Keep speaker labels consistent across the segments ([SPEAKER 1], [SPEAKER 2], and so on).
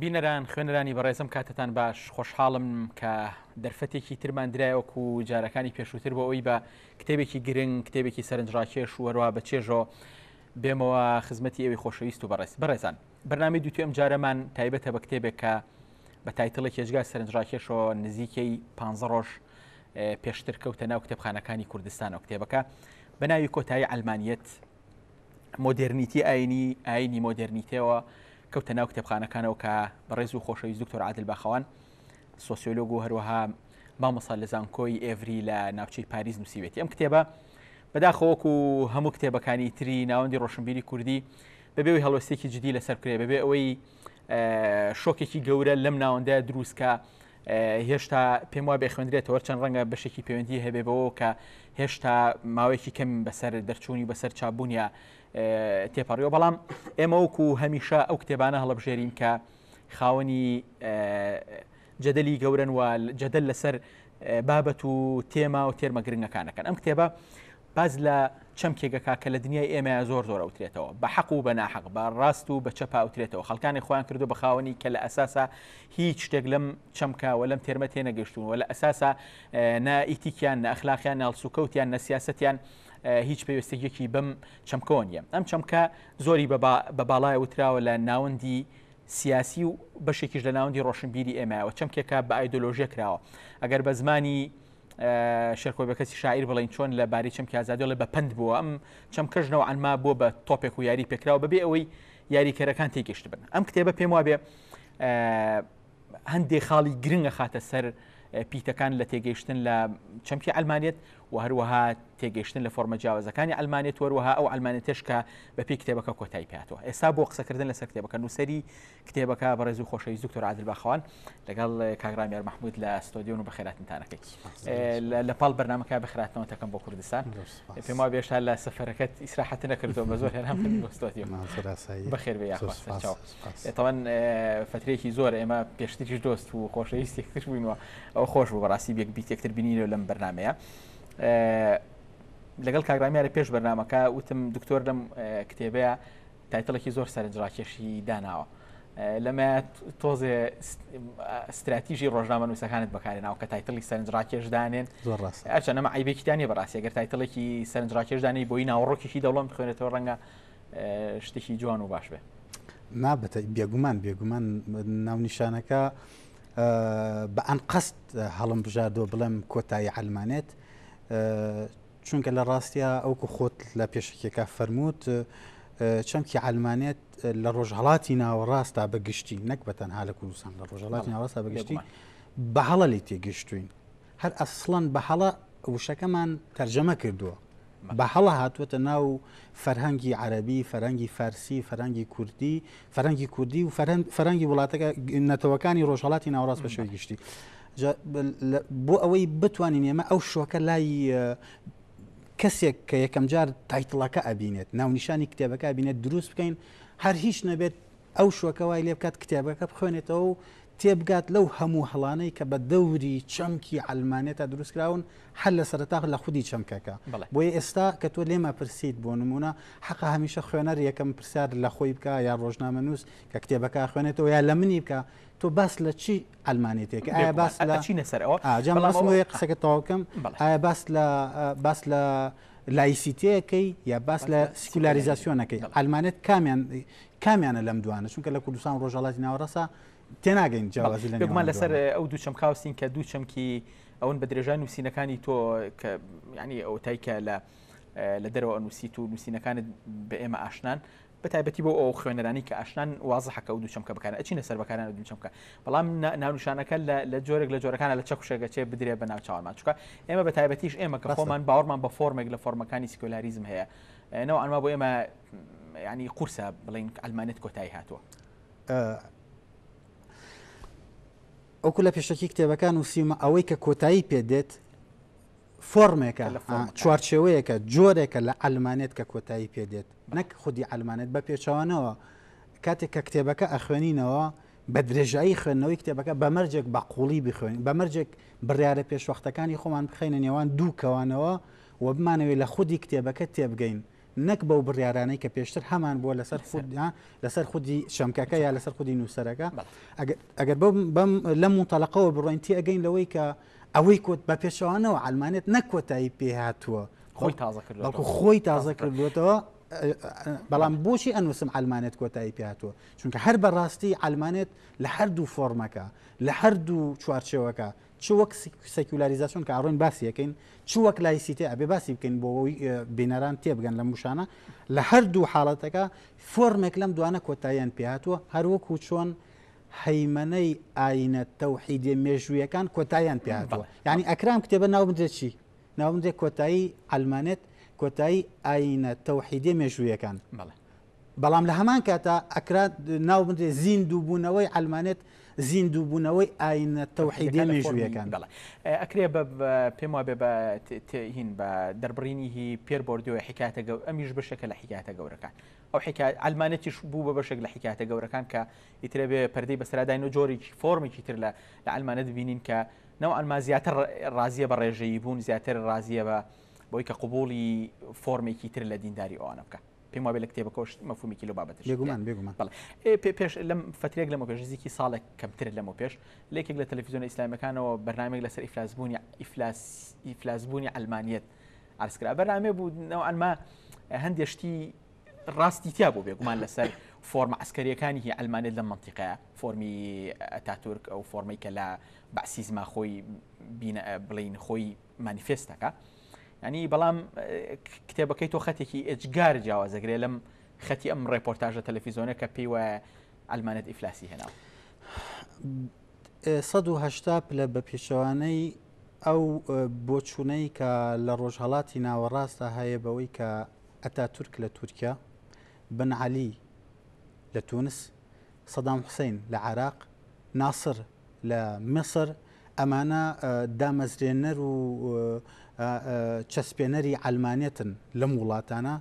[SPEAKER 1] بینەران خوێنرانی بەڕێزم کاتتان باش خۆشحاڵم کە دەرفەتێکی ترمان درایوەک و جارەکانی پێشووتر بۆ ئەوی بە کتێبێکی گرنگ کتێبێکی سەرنجڕاکێش وەروە بە چێژۆ بێمەوە خزمەتی ئەوی خۆشەویست و بەڕێز بەڕێزان بەنامی دووتی ئەم جارەمان تایبەتە بە کتێبێک کە بە تایتڵی کێژگا سەرنجڕاکێشەوە نزیکەی پ ڕۆژ پێشتر کەوتە ناو کتێبخانەکانی کوردستان و کتێبەکە بەناوی کۆتایی ئەلمانیت مۆدێرنیتی ئاینی ئاینی مۆدێرنیتەوە کەوتە ناو کتێبخانەکانەوە کە بەڕێز و خۆشەویست دکتۆر عادل باخەوان سۆسیۆلۆگ و هەروەها مامەسا لە زانکۆی ئێڤری لە ناوچەی پاریس نووسیوێتی ئەم کتێبە بەداخەوەک و هەموو کتێبەکانی تری ناوەندی ڕۆشنبیری کوردی بەبێەوەی هەڵۆستێکی جدی لەسەر کرێ بەبێ ئەوەی شۆکێکی گەورە لەم ناوەندە دروستکە هێشتا پێم وابێ خوێندرێتەوە چەند ڕەنگە بەشێکی پەیوەندی هەبێ بەوە کە هێشتا ماوەیەکی کەم بەسەر دەرچوونی بەسەر چابوونیە تێپەڕیەوە بەڵام ئێمە وەکو هەمیشە ئەو کتێبانە هەڵبژێرین کە خاوەنی جەدەلی گەورن و جەدەل لەسەر بابەت و تێما و تێرمە گرنگەکانەکەن ئەم کتێبە باس لە چەمکێک دەکات کە لە دنیای ئێمەیا زۆر زۆر ئەوترێتەوە، بە حەق و بە ناحەق، بە ڕاست و بە چەپا ئەوترێتەوە، خەڵکانێک خۆیان کردووە بە خاوەنی کە لە ئەساسا هیچ شتێک لەم چەمکە و لەم تێرمە تێنەگەیشتوون و لە ئەساسا نە ئیتیکیان، نە ئەخلاقیان، نە هەڵسوکەوتیان، نە سیاسەتیان هیچ پێوستگیەکی بەم چەمکەوە نییە. ئەم چەمکە زۆری بە باڵای وتراوە لە ناوەندی سیاسی و بەشێکیش لە ناوەندی ڕۆشنبیری ئێمەیەوە، چەمکێکە بە ئایدۆلۆژیە کراوە، ئەگەر بە زمانی شێرکۆ بەکەسی شاعیر بڵین چۆن لە باری چەمکی ئازادیڵێ بە پند بووە ئەم چەمکەش نەوەعانما بووە بە تۆپێک و یاری پێکراوە بەبێ ئەوەی یاریکەرەکان تێگەشت بن ئەم کتێبە پێم وابێ هەندێ خاڵی گرنگە خاتە سەر پیتەکان لە تێگەیشتن لە چەمکی ئەلمانێت و هەروەها تێگەیشتن لە فۆرمە جیاوازەکانی ئەلمانێت وەروەها ئەو ئەلمانێتش کە بە پێی کتێبەکە کۆتای پاتەوە ئێستا بۆ قسەکردن لەسەر کتێبەکە نووسری کتێبەکە بەڕێزو خۆشەویست دکتۆر عادل باخەوان لەگەڵ کاک ڕامیار محمود لە ستۆدیۆن و بەخێراتنتانەکەی لە پاڵ بەرنمەکە بخراتنەوەتەکەم بۆ کوردستان پێم وا بێشتا لە سەفەرەکەت ئیسراحەت نەکردەوە بە زۆر هێنام بەخێر بێ تەوان فترێکی زۆر ئێمە پێشتریش دۆست و خۆشەویستی یەکتر بووینەوە ئەو خۆش بوو بەڕاستی بێک بیت یەکتر بینیرە لەم بەرنمەیە لەگەڵ کاگرامیارە پێش بەرنمەکە وتم دکتۆر لەم کتێبەیە تایتڵێکی زۆر سەرنجڕاکێشی داناوە لەمەات تۆزێ ستراتیژی ڕۆژنامە نووسەکانت بەکارێناوە کە تایتڵی سەرنجڕاکێش دانێن ئەچە نەمە ئایبێکیتانی بەڕاستی گەر تایتڵێکی سەرنجڕاکێش دانی بۆی ناوەڕۆکێکی دەوڵەم بخوێنێتەوە ڕەنگە شتێکی جوان و باش بێ نابەتە بێگومان بێگومان ناونیشانەکە بە ئەنقەست هەڵم بژاردۆ بڵێم کۆتایی ئەلمانێت چونکە لە ڕاستیا ئەوکو خۆت لە پێشەکیەکە فەرمووت چەمکی عەلمانێت لە ڕۆژهڵاتی ناوەڕاستا بەگشتی نەک بە تەنها لە کوردستان لە ڕۆژهڵاتی ناوەڕاستا بەگشتی بەهڵە لی تێگەشتوین هەر ئەسڵەن بەهڵە وشەکەمان تەرجەمە کردووە بە هەڵە هاتووەتە ناو فەرهەنگی عەربی فەرەنگی فارسی فەرەنگی کوردی فەرەنگی کوردی و فەرەنگی وڵاتەکە نەتەوەکانی ڕۆژهڵاتی ناوڕاست بە شوێ گشتی بۆ ئەوەی بتوانین ئێمە ئەو شۆکە لای کەسێک کە یەکەم جار تایتڵەکە ئەبینێت ناونیشانی کتێبەکە بینێت دروست بکەین هەر هیچ نەبێت ئەو شوەکە وای لێ بکات کتێبەکە بخوێنێتەوە و تێبگات لەو هەموو هەڵانەی کە بە دەوری چەمکی ئەلمانێتە دروستکراون هەر لە سەرتاخ لە خودی چەمکەکە بۆیە ئێستا کە تۆ لێمە پرسیت بۆ نمونە حەق هەمیشە خوێنەر یەکەم پرسیار لە خۆی بکە یا ڕۆژنامە نووس کە کتێبەکە خوێنێتەوە یا لە منی بکە تۆ باس لە چی عەلمانیەتێکە ئایا باس لە ئەچینە سەر ئەوە ئا جا بەڵام مەبەستم ئەوە- ئەوەیە قسەکە تەواو بکەم بەڵێ. ئایا باس لە ئا، باس لە لایسیتەیەکەی یا باس لە لە سیکولاریزاسیۆنەکەی بەڵێ. عەلمانیەت کامیان کامیانە لەم دوانە چونکە لە کوردستان و ڕۆژهەڵاتی ناوەڕاستە تێناگەین جیاوازی لە گومان نێوان لەسەر دوانە. ئەو دوو چەمکاوسین کە دوو چەمکی ئەون بە درێژای نووسینەکانی تۆ کە ینی ئەوتای کە لە لە دەرەوە نووسیت و نووسینەکانت بە ئێمە ئاشنان بە تایبەتی بۆ ئەو خوێنەرانەی کە ئاشنان وازحە کە ئەو دوو چەمکە بەکارە ئەچینە سەر بەکاران ئەو دوو چەمکە بەڵام ناونیشانەکە لە جۆرێک لە جۆرەکانە لە چەکوشێک گەچێ بدرێ بە ناوچوانمان چکە ئێمە بە تایبەتیش ئێمە کە خۆمان باوەڕمان بە فۆرمێک لە فۆرمەکانی سکۆلاریزم هەیە نەوە ئەنما بۆ ئێمە ینی قورسە بڵین ئەلمانێت کۆتایی هاتووە ئەوکو لە پێشەکی کتێبەکان وسیمە ئەوەی کە کۆتایی پێ دێت فۆرمێکە چوارچێوەیەکە جۆرێکە لە ئەلمانێت کە کۆتایی پێ دێت نەک خودی عەلمانێت، بە پێچەوانەوە کاتێک کە کتێبەکە ئەخوێنینەوە بە درێژایی خوێندنەوەی کتێبەکە بە مەرجێک بە قوڵی بخوێنین بە مەرجێک بڕیارە پێشوەختەکانی خۆمان بخەینە نێوان دوو کەوانەوە و بمانەوێت لە خودی کتێبەکە تێبگەین نەک بەو بڕیارانەی کە پێشتر هەمان بووە لەسەر خود لەسەر خودی چەمکەکە یا لەسەر خودی نووسەرەکە ئەگەر بەم لەم متەلقەوە بڕۆین تێگەین لەوەی کە ئەوەی کۆت بە پێچوانەوە ئەلمانێت نەکۆتایی پێهاتووە خۆی تازە کرد بەڵکو خۆی تازە کردوێتەوە بەڵام بۆچی ئەنووسم ئەلمانێت کۆتایی پێاتوە چونکە هەر بەڕاستی ئەلمانێت لە هەردوو فۆرمەکە لە هەردوو چوارچەوەکە چ وەک سەکولاریزاسیۆن کە ئەڕۆین باسیەکەین چ وەک لایسیتێ ئەبێ باسی بکەین بۆ بینەران تێبگەن لە موشانە لە هەردوو حاڵەتەکە فۆرمێک لەم دوانە کۆتاییان پێاتوە هەروەکو چۆن هەیمەنەی ئاینە تەوحیدێ مێژوویەکان کۆتاییان پێاتوە ینی ئەکرام کتێبە ناو بدرێت چی ناوەندێک کۆتایی عەلمانێت کۆتایی ئاینە تەوحیدێ مێژوویەکان بەڵێ بەڵام لە هەمان کاتا ئەکرا ناو بنرێ زین دووبوونەوەی ئەلمانێت زین دووبوونەوەی ئاینە تەوحیدێ مێژوویەکان بەڵێ ئەکرێ بە پێم وابێ بە هین بە دەربڕینی هی پێر بردووە حکاتە گەور ئەمیش بەشێکە لە حکاتە گەورەکان ئەو حکات ئەلمانێتیش بوو بە بەشێک لە حکاتە گەورەکان کە ئیترە بێ پەردەی بەسراداین و جۆرێکی فۆرمێکی تر لە لە ئەلمانە دبینین کە نەوعەن ما زیاتر ڕازیە بە ڕێژەیی بوون، زیاتر ڕازیە بە بەوەی کە قبوڵی فۆرمێکی تر لە دینداری ئەوانە بکا. پێم وابێ لە کتێبەکەوەش مەفهومێکی لەو بابەتەش هەیە. بێگومان بێگومان. بەڵێ. ئێ پێ پێش لەم فترەیەک لەمەو پێش نزیکی ساڵێک کەمتر لەمەو پێش لە یەکێک لە تەلەفیزیۆنە ئیسلامیەکانەوە بەرنامەیەک لەسەر ئیفلاسبوونی ئیفلاس ئیفلاسبوونی عەلمانیەت عەرز کرا. بەرنامەیەک بوو نەوعەن ما هەندێ شتی ڕاستی تیا بوو بێگومان لەسەر فۆرمە عسکەریەکانی هی ئەلمانێت لەم منتیقەیە فۆرمی ئەتاتورک ئەو فۆرمەی کە لە بەسیزما خۆی بڵین خۆی مانیفێستەکە ینی بەڵام کتێبەکەی تۆ خەتێکی ئێجگار جیاوازەگرێ لەم خەتی ئەم ڕێپۆرتاژە تەلەفیزۆنە کە پێی وایە ئەلمانێت ئیفلاسی هێناوە 1970 پلە بە پێچەوانەی ئەو بۆچوونەی کە لە ڕۆژهڵاتی ناوەڕاستە هەیە بەوەی کە ئەتاتورک لە تورکیا، بن عەلی لە تونس، سەدام حوسەین لە عێراق، ناسر لە میسر، ئەمانە دامەزرێنەر و چەسپێنەری عەلمانیەتن لەم وڵاتانە،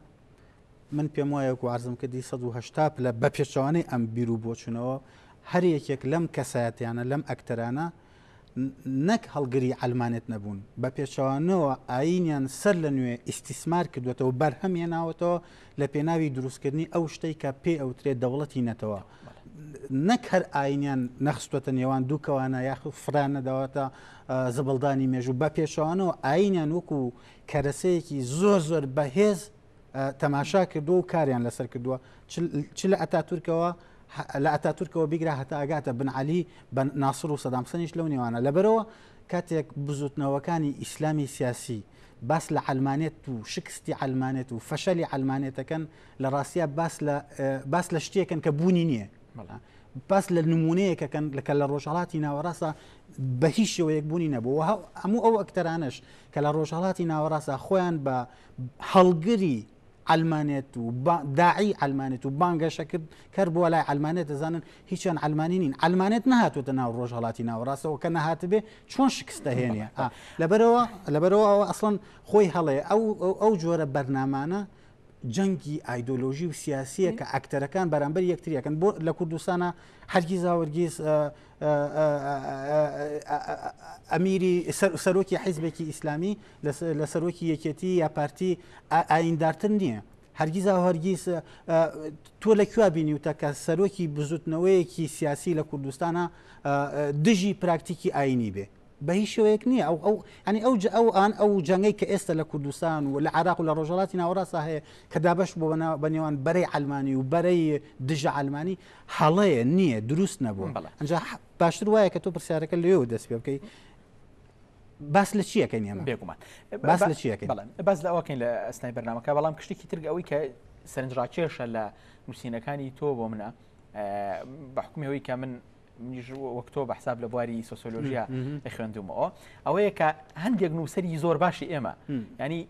[SPEAKER 1] من پێم وایە وەکو عرضم کردی 1970 پلە بە پێچەوانەی ئەم بیر و بۆچوونەوە هەر یەکێک لەم کەسایەتیانە لەم ئەکتەرانە نەک هەڵگری عەلمانێت نەبوون، بە پێچەوانەوە ئایینیان سەر لە نوێ ئیستیسمار کردووەتەوە و بەرهەم هێناوەتەوە لە پێناوی دروستکردنی ئەو شتەی کە پێی ئەوترێت دەوڵەتی نەتەوە. نەک هەر ئایینیان نەخستووەتە نێوان دوو کەوانە یاخود فرە نەداوەتە زبڵدانی مێژوو، بە پێچەوانەوە ئایینیان وەکوو کەرەسەیەکی زۆر زۆر بەهێز، تەماشا کردووە و کاریان لەسەر کردووە چ لە ئەتاتورکەوە لە ئەتاتورکەوە بیگرا هەتا ئەگاتە بنعالی بە ناسر و سەدامسەنیش لەو نێوانە لەبەرەوە کاتێک بزوتنەوەکانی ئیسلامی سیاسی باس لە علمانێت و شکستی علمانێت و فەشەلی علمانێتەکەن لە ڕاستە باس لە شتێکن کە بوونی نییە باس لە نمونەیەکەکەن لەکە لە ڕۆژهڵاتی ناوەڕاستە بە هیچ شێوەیەک بوونی نەبووەوە هەموو ئەو ئەکتەرانش کە لە ڕۆژهڵاتی ناوەڕاستە خۆیان بە هەڵگری عەلمانێت و داعی عەلمانێت و بانگەشە کرد کەر بۆ لای عەلمانێت دەزانن هیچیان عەلمانی نین عەلمانێت نەهاتوتە ناو ڕۆژ هەڵاتی ناوەڕاستەوە کە نەهاتبێ چۆن شکستە هێنە لەبەرەوە لەبەرەوە ئەوە ئەسڵەن خۆی هەڵێ ئەو ئەو جۆرە بەرنامانە جەنگی ئایدۆلۆژی و سیاسیە کە ئەکتەرەکان بەرامبەر یەکتریەکەن بۆ لە کوردستانە هەرگیزاوەرگیز ئەمیری سەرۆکی حیزبێکی ئیسلامی لە سەرۆکی یەکێتی یا پارتی ئایندارتر نییە هەرگیزا هەرگیز تۆ لە کوێ بینی وتە کە سەرۆکی بزوتنەوەیەکی سیاسی لە کوردستانە دژی پراکتیکی ئاینی بێ بە هیچ شوەیەک نییە ئەو ئەو ئەنی ئەو ئەو ئان ئەو جەنگەی کە ئێستا لە کوردستان و لە عراق و لە ڕۆژهڵاتی ناوەڕاستە هەیە کە دابش بۆ بە نێوان بەرەی ئەلمانی و بەرەی دژە ئەلمانی هەڵەیە نییە دروست نەبووە بەڵێ ئەجا باشتر وایە کە تۆ پرسیارەکە لێو دەست پێ بکەی باس لە چیەکەین ئێمە بێگومان باس لە چیەکە بەڵێن باس لە ئەوکەین لە ئەستای بەرنمەکە بەڵام کشتێکی ترگ ئەوەی کە سەرنجڕاکێشە لە نووسینەکانی تۆ بۆ منە بەحکومیەوەی کە من وەکتۆ بە حساب لە بواری سۆسۆلۆژیا خوێندومەوە ئەوەیە کە هەندێک نووسری زۆر باشی ئێمە ینی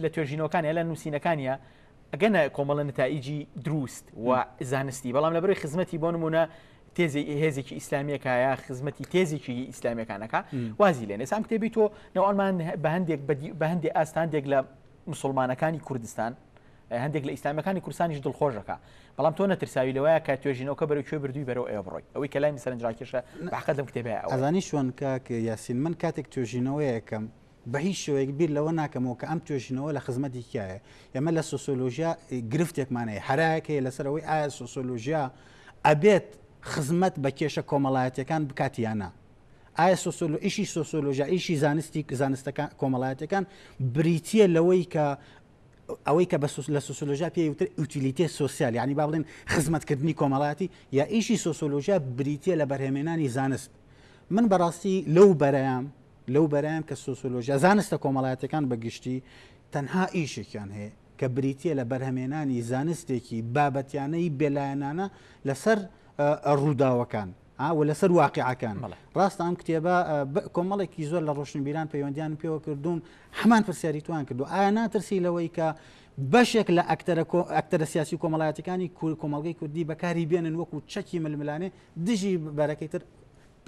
[SPEAKER 1] لە توێژینەوەکانە لە نووسینەکانە ئەگەنە کۆمەڵە نتائیجی دروست و زانستی بەڵام لە بەرەی خزمەتی بۆ نمونە تێزی هێزێکی ئیسلامیەکایە خزمەتی تێزێکی ئیسلامیەکانەکە وازی لێ نێسان کتێبی تۆ ناوانمان بە هەندێک بە هەندێک ئاستاندێک لە مسلمانەکانی کوردستان هەندێک لە ئیسلامەکانی کورسانیش دڵخۆشەکە بەڵام تۆ نەترساوی لەوەیە کە توێژینەوەکە بەرەو کوێ بردووی بەرەو ئێوە بڕۆی ئەوەی کە لای سەرنجڕاکێشە بەحقەت لەم کتێبە ئەزانی شوێن کاک یاسین من کاتێک توێژینەوەیەکەم بە هیچ شێوەیەک بیر لەوە ناکەمەوە کە ئەم توێژینەوە لە خزمەتی کیایە ئێمە لە سۆسۆلۆژیا گرفتێکمان هەیە هەرایەک هەیە لەسەر ئەوەی ئایا سۆسۆلۆژیا ئەبێت خزمەت بە کێشە کۆمەڵایەتەکان بکات یانە ئایا سۆسۆلۆ ئیشی سۆسۆلۆژیا ئیشی زانستی زانستەکان کۆمەڵایەتەکان بریتە لەوەی کە ئەوەی کە بە لە سوسۆلۆژیا پێ وتر ئوتیلیتێ سوسیال ینی با بڵێن خزمەتکردنی کۆمەڵاتی یا ئیشی سۆسۆلۆژیا بریتە لە بەرهێمێنانی زانست من بەڕاستی لەو بەرەیان لەو بەرەیان کە سۆسۆلۆژیا زانستە کۆمەڵایەتەکان بە گشتی تەنها ئیشێکیان هەیە کە بریتە لە بەرهەمێنانی زانستێکی بابەتیانەی بێلایەنانە لەسەر ڕووداوەکان و لەسەر واقعەکان ڕاستە ئەم کتێبە کۆمەڵێکی زۆر لە ڕۆشنبیران پەیوەندیان پێوە کردوون هەمان پرسیاری توان کردو ئایا ناترسی لەوەی کە بەشێک لە ئەکتەرە سیاسی و کۆمەڵایەتەکانی کۆمەلگەی کوردی بەکاری بێنن وەکو چەکی ململانێ دژی بەرەکەی تر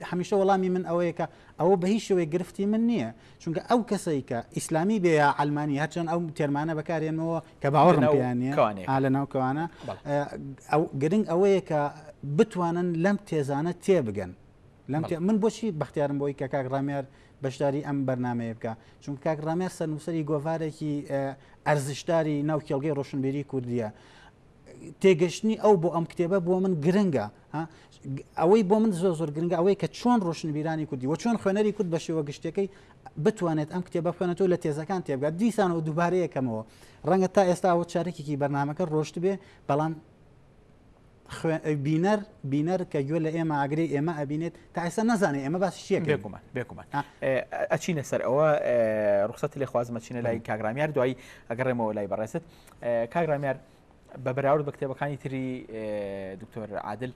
[SPEAKER 1] هەمیشە وەڵامی من ئەوەیە کە ئەوە بە هیچ شێوەیەک گرفتی من نییە چونکە ئەو کەسەی کە ئیسلامی بێ یا عەلمانی هەرچەند ئەو تێرمانە بەکارێنەوە کە باوەڕم لەناو پێیان نییە کەوانەیە. ئا لە ناو کەوانە بەڵێ. ئە، ئەو گرنگ ئەوەیە کە بتوانن لەم تێزانە تێبگەن لەم بەڵێ. تێ من بۆچی بەختیارم بۆی کە کاک ڕامیار بەشداری ئەم بەرنمەیە بکە چونکە کاک ڕامیار سەرنووسەری گۆڤارێکی ئە، ئەرزشداری ناو کێڵگەی ڕۆشنبیری کوردیە تێگەشتنی ئەو بۆ ئەم کتێبە بۆ من گرنگە ئەوەی بۆ من زۆر زۆر گرنگە ئەوەی کە چۆن ڕۆشنبیرانی کوردی و چۆن خوێنەری کورد بە شێوە گشتەکەی بتوانێت ئەم کتێبە خوێنەوە لە تێزەکان تێبگات دیسان و دووبارەیەکەمەوە ڕەنگە تا ئێستا ئەوە چارێکێکی بەرنمەکە ڕۆشت بێ بەڵام بینەر بینەر کە گوێ لە ئێمە ئاگری ئێمە ئەبینێت تا ئێستا نازانێت ئێمە باسی شتێک بێکومان بێکومان ئەچینە سەر ئەوە ڕخصەت لێ خوازمە چینە لای کاگرامیار دوایی ئەگەڕێمەوە لای بەڕێست کاک ڕامیار بە بەراورد بە کتێبەکانی تری دکتۆر عادل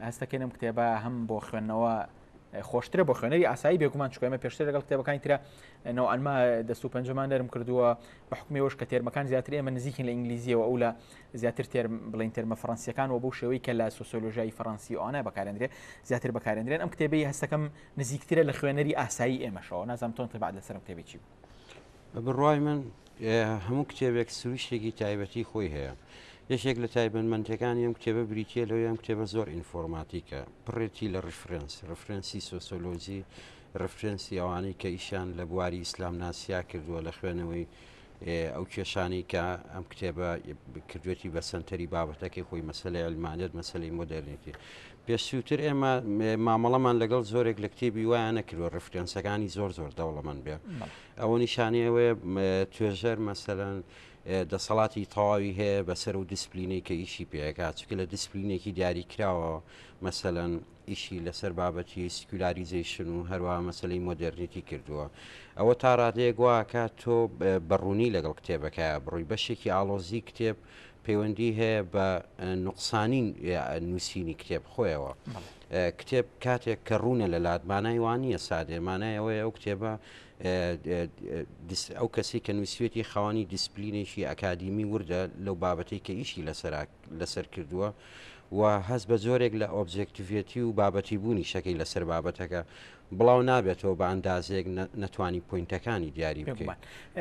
[SPEAKER 1] هەستەکەێنم کتێبە هەم بۆ خوێندنەوە خۆشترە بۆ خوێنەری ئاسایی بێگومان چکۆمە پێشتر لەگەڵ کتێبەکانی ترە نەوەنما دەست و پەنجەمان نەرم کردووە بە حکومەوەش کە تێرمەکان زیاتر ئێمە نزیکن لە ئینگلیزیەوە ئەو لە زیاتر تێر بڵین تێرمە فەرەنسیەکان و بۆ شێوەی کە لە سوسۆلۆژای فەرەنسی ئەوانە بەکارێنرێ زیاتر بەکارێنرێن ئەم کتێبی هەستەکەم نزیکترە لە خوێنەری ئاسایی ئێمەشەوە نازم تۆن تبعات لەسەرم کتێبی چی بوو بە بڕوای من هەموو کتێبێک سروشتێکی تایبەتی خۆی هەیە یەکێک لە تایبەتمەندەکان ئەم کتێبە بریتە لەو یان کتێبە زۆر ئینفۆرماتیکە پڕێتی لە ڕفرەنس ڕفرەنسی سۆسۆلۆجی ڕفرەنسی ئەوانەی کە ئیشان لە بواری ئیسلام ناسیا کردووە لە خوێنەوەی ئەو کێشانی کە ئەم کتێبە کردوێتی بە سنتەری بابەتەکەی خۆی مەسلەی ئەلمانێت مەسلەی مۆدررنێتی پێشووتر ئێمە مامەڵەمان لەگەڵ زۆرێک لە کتێبی وایە نەکردوە ڕفرەنسەکانی زۆر زۆر دەوڵەمەند بێ ئەوە نیشانی ئەوەیە توێژەر مەسەەن دەسەڵاتی تەواوی هەیە بەسەر و دیسپلینەی کە ئیشی پێەکە چکە لە دیسپلینێکی دیاری کراوە مەسەەن ئیشی لەسەر بابەتی سکولاریزیشن و هەروە مەسلەی مۆدررنیتی کردووە ئەوە تا ڕادەیەک واکە تۆ بەڕوونی لەگەڵ کتێبەکە بڕووی بەشێکی ئاڵۆزی کتێب پەیوەندی هەیە بە نوقسانین نووسینی کتێب خۆیەوە کتێب کاتێک کە ڕوونە لە لات مانای وانە سادێ مانای ئەوەیە ئەو کتێبە ئەو کەسی کە نووسێتی خاوەنی دیسپلینێکی ئەکادیمی وردە لەو بابەتی کە ئیشی لەسەر لەسەر کردووە و هەز بە زۆرێک لە ئۆبجێکتیڤێتی و بابەتی بوونی شەکەی لەسەر بابەتەکە بڵاو نابێتەوە بە ئەندازێک نەتوانی پوینتەکانی دیاری بکەمان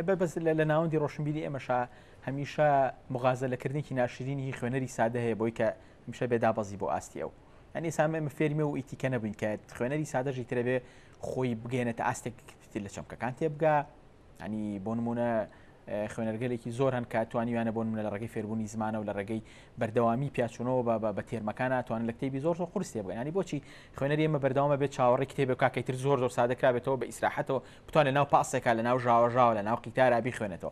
[SPEAKER 1] بەبست لە ناوەندی ڕۆشنبیری ئێمەشا هەمیشە مغازەلەکردنێکی ناشرینی هی خوێنەری سادە هەیە بۆی کە هەمیشە بێ دابەزی بۆ ئاستی ئەو ئەنی سامێ من فێرمێ و ئیتیکە نەبووین کە خوێنەری سادەژی ترە بێ خۆی بگەێنێتە ئاستێک تر لە چەمکەکان تێبگا ئەنی بۆ نمونە خوێنەرگەلێکی زۆر هەن کە توانیویانە بۆ منە لە ڕێگەی فێربوونی زمانە و لە ڕێگەی بەردەوامی پیاچونەوە بە بە تێرمەکان توان لە کتێبی زۆر زۆر قرسێ بگەنانی بۆچی خوێنەر ئێمە بەردەوامە بێت چاوەڕی کتێبە کاکەی تر زۆر زۆر سادەکرابێتەوە بە ئیسراحەتەوە بتوان لە ناو پاسێکا لە ناو ژاوەژاوە لە ناو قیتارا بخوێنێتەوە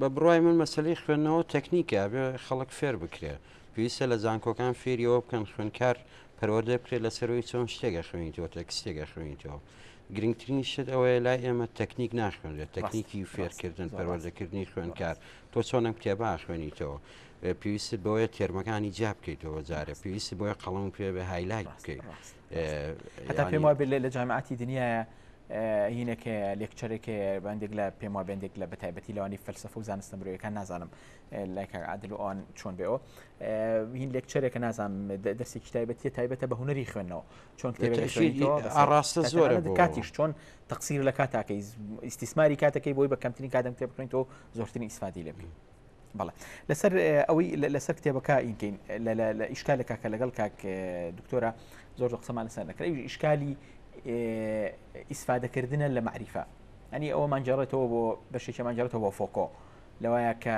[SPEAKER 1] بە بڕای من مەسلەی خوێندنەوە تەکنیکە بێ خەڵک فێر بکرێت پێویستە لە زانکۆکان فێریەوە بکەن خوێنکار پەروەدە بکرێت لەسەرەوەی چۆن شتێکە خوێنیتەوە تەکسێکە خوێنیتەوە گرنگترین شت ئەوەیە لای ئێمە تەکنیک ناخوێنرێت تەکنیکی فێرکردن پەروەردەکردنی خوێنکار تۆ چۆنم کتێبا خوێنیتەوە پێویست بۆیە تێرمەکانی جیا بکەیتەوە جارە پێویست بۆیە قەڵم پێ بە هایلایت بکەیت هەتا پێم وابێت لە جامعاتی دنیاە هینەکە لێکچەرێک بەندێک لە پێم وا بندێک لە بەتایبەتی لەوانی فەلسفە و زانستە مرۆیەکان نازانم لایکە عادل ئەوان چۆن بێەوە هین لێکچەرێکە نازانم دەستێکی تایبەتی تایبەتە بە هوەری خوێندنەوە چۆن ڕاستە زۆر کاتیش چۆن تەقسیر لە کاتاکەی ئیسیسماری کاتەکەی بۆی بە کەمترین کاتم کتێب بکەین تۆ زۆرترین ئیسفادی لێبی بەڵێ لەسەر ئەوەی لەسەر کتێبەکە ئینکەین لە ئیشکالە کاکە لەگەڵ کاک دکتۆرە زۆر قسەمان لەسەر نەکرێت ئیشکالی ئیسفادەکردە لە معریفە ئەنی ئەوە ماجارێتەوە بۆ بەشێکی ماجارێتەوە بۆ فۆکۆ لەوایە کە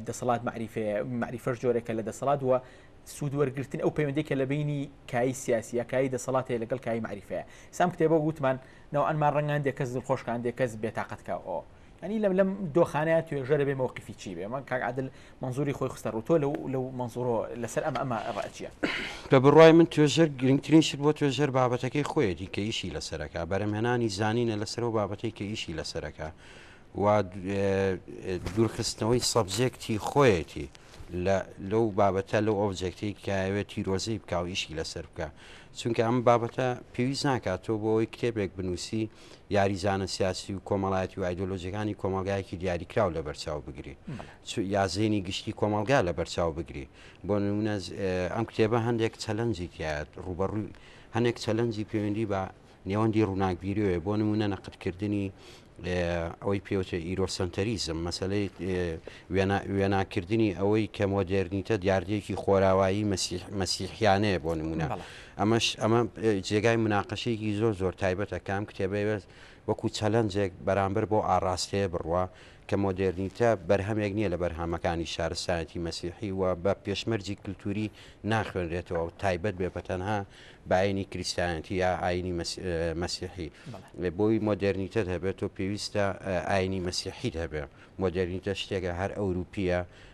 [SPEAKER 1] دەسەڵات معریفێ معریفەش جۆرێکە لە دەسەڵات وە سوود وەرگتن ئەو پەیوەندێکە لە بینی کای سیاسیە کای دەسەڵاتێ لەگەڵ کای معریفەیە سام کتێبە گوتمان ناوانمان ڕنگان دێکەس خۆشکان دێکەس بێتاقەتکە ئەو ئەنی لەم لەم دۆخانەیە توێژە دەبێ مەوقفی چی بێ من کاک عادل منزوری خۆی خستە ڕوتۆ لەو لەو منزۆرۆ لەسەر ئەمە ئەمە ڕەچیە بە بڕای من توێژەر گرنگترین شت بۆ توێژەر بابەتەکەی خۆیەتی کە ئیشی لەسەرەکە بەرەمهێنانی زانینە لەسەر و بابەتەی کە ئیشی لەسەرەکە و دوورخستنەوەی سەبجێکتی خۆیەتی لەو بابەتە لەو ئۆبجێکتی کاوێت تیرۆزەی بکاو ئیشی لەسەر بکە چونکە ئەم بابەتە پێویست ناکات تۆ بۆ ئەوی کتێبێک بنووسی یاریزانە سیاسی و کۆمەڵایەتی و ئایدۆلۆژیەکانی کۆمەڵگایەکی دیاریکراو لە بەرچاو بگری یا زێنی گشتی کۆمەڵگا لە بەرچاو بگری بۆ نمونە ئەم کتێبە هەندێک چەلەنجی تایەت ڕوبەڕووی هەندێک چەلەنجی پەیوەندی بە نێوەندی ڕووناکبیرەوە بۆ نمونە نەقدکردنی ئەوەی پێوتە ئیرۆسەنتەریزم مەسلەی وێناکردنی ئەوەی کە مۆدێرنیتە دیاردەیەکی خۆراوایی مەسیحیانەیە بۆ نمونە ئەمەش ئەمە جێگای مناقەشەیەکی زۆر زۆر تایبەتە کە ئەم کتێبەی بەس وەکو چەلەنجێک بەرامبەر بەو ئاڕاستەیە بڕوا کە مۆدێرنیتە بەرهەمێک نییە لە بەرهەمەکانی شارستایەتی مەسیحی و بە پێشمەرجی کللتوری ناخوێنرێتەوە و تایبەت بێ بە تەنها باینی کریسیانەتی یا ئاینی مەسیحی بۆی مۆدێرنیتە هەبێت و پێویستە ئاینی مەسیحیت هەبێ مۆدێرنیتە شتێکە هەر ئەوروپیە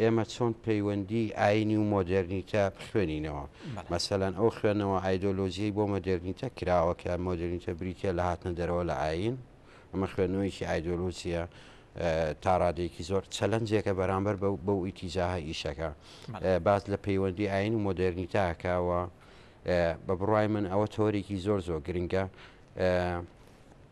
[SPEAKER 1] ئێمە چۆن پەیوەندیی ئایینی و مۆدێرنیتە بخوێنینەوە. مەسەلەن ئەو خوێندنەوە ئایدۆلۆژییەی بۆ مۆدێرنیتە کراوە کە مۆدێرنیتە بریتییە لە هاتنە دەرەوە لە ئایین، ئەمە خوێندنەوەیەکی ئایدۆلۆژییە تا ڕادەیەکی زۆر چەلەنجێکە بەرامبەر بەو بەو ئیتیجاهە ئیشەکە باس لە پەیوەندیی ئایین و مۆدێرنیتە ئەکا و بە بڕوای من ئەوە تەوەرێکی زۆر زۆر گرنگە.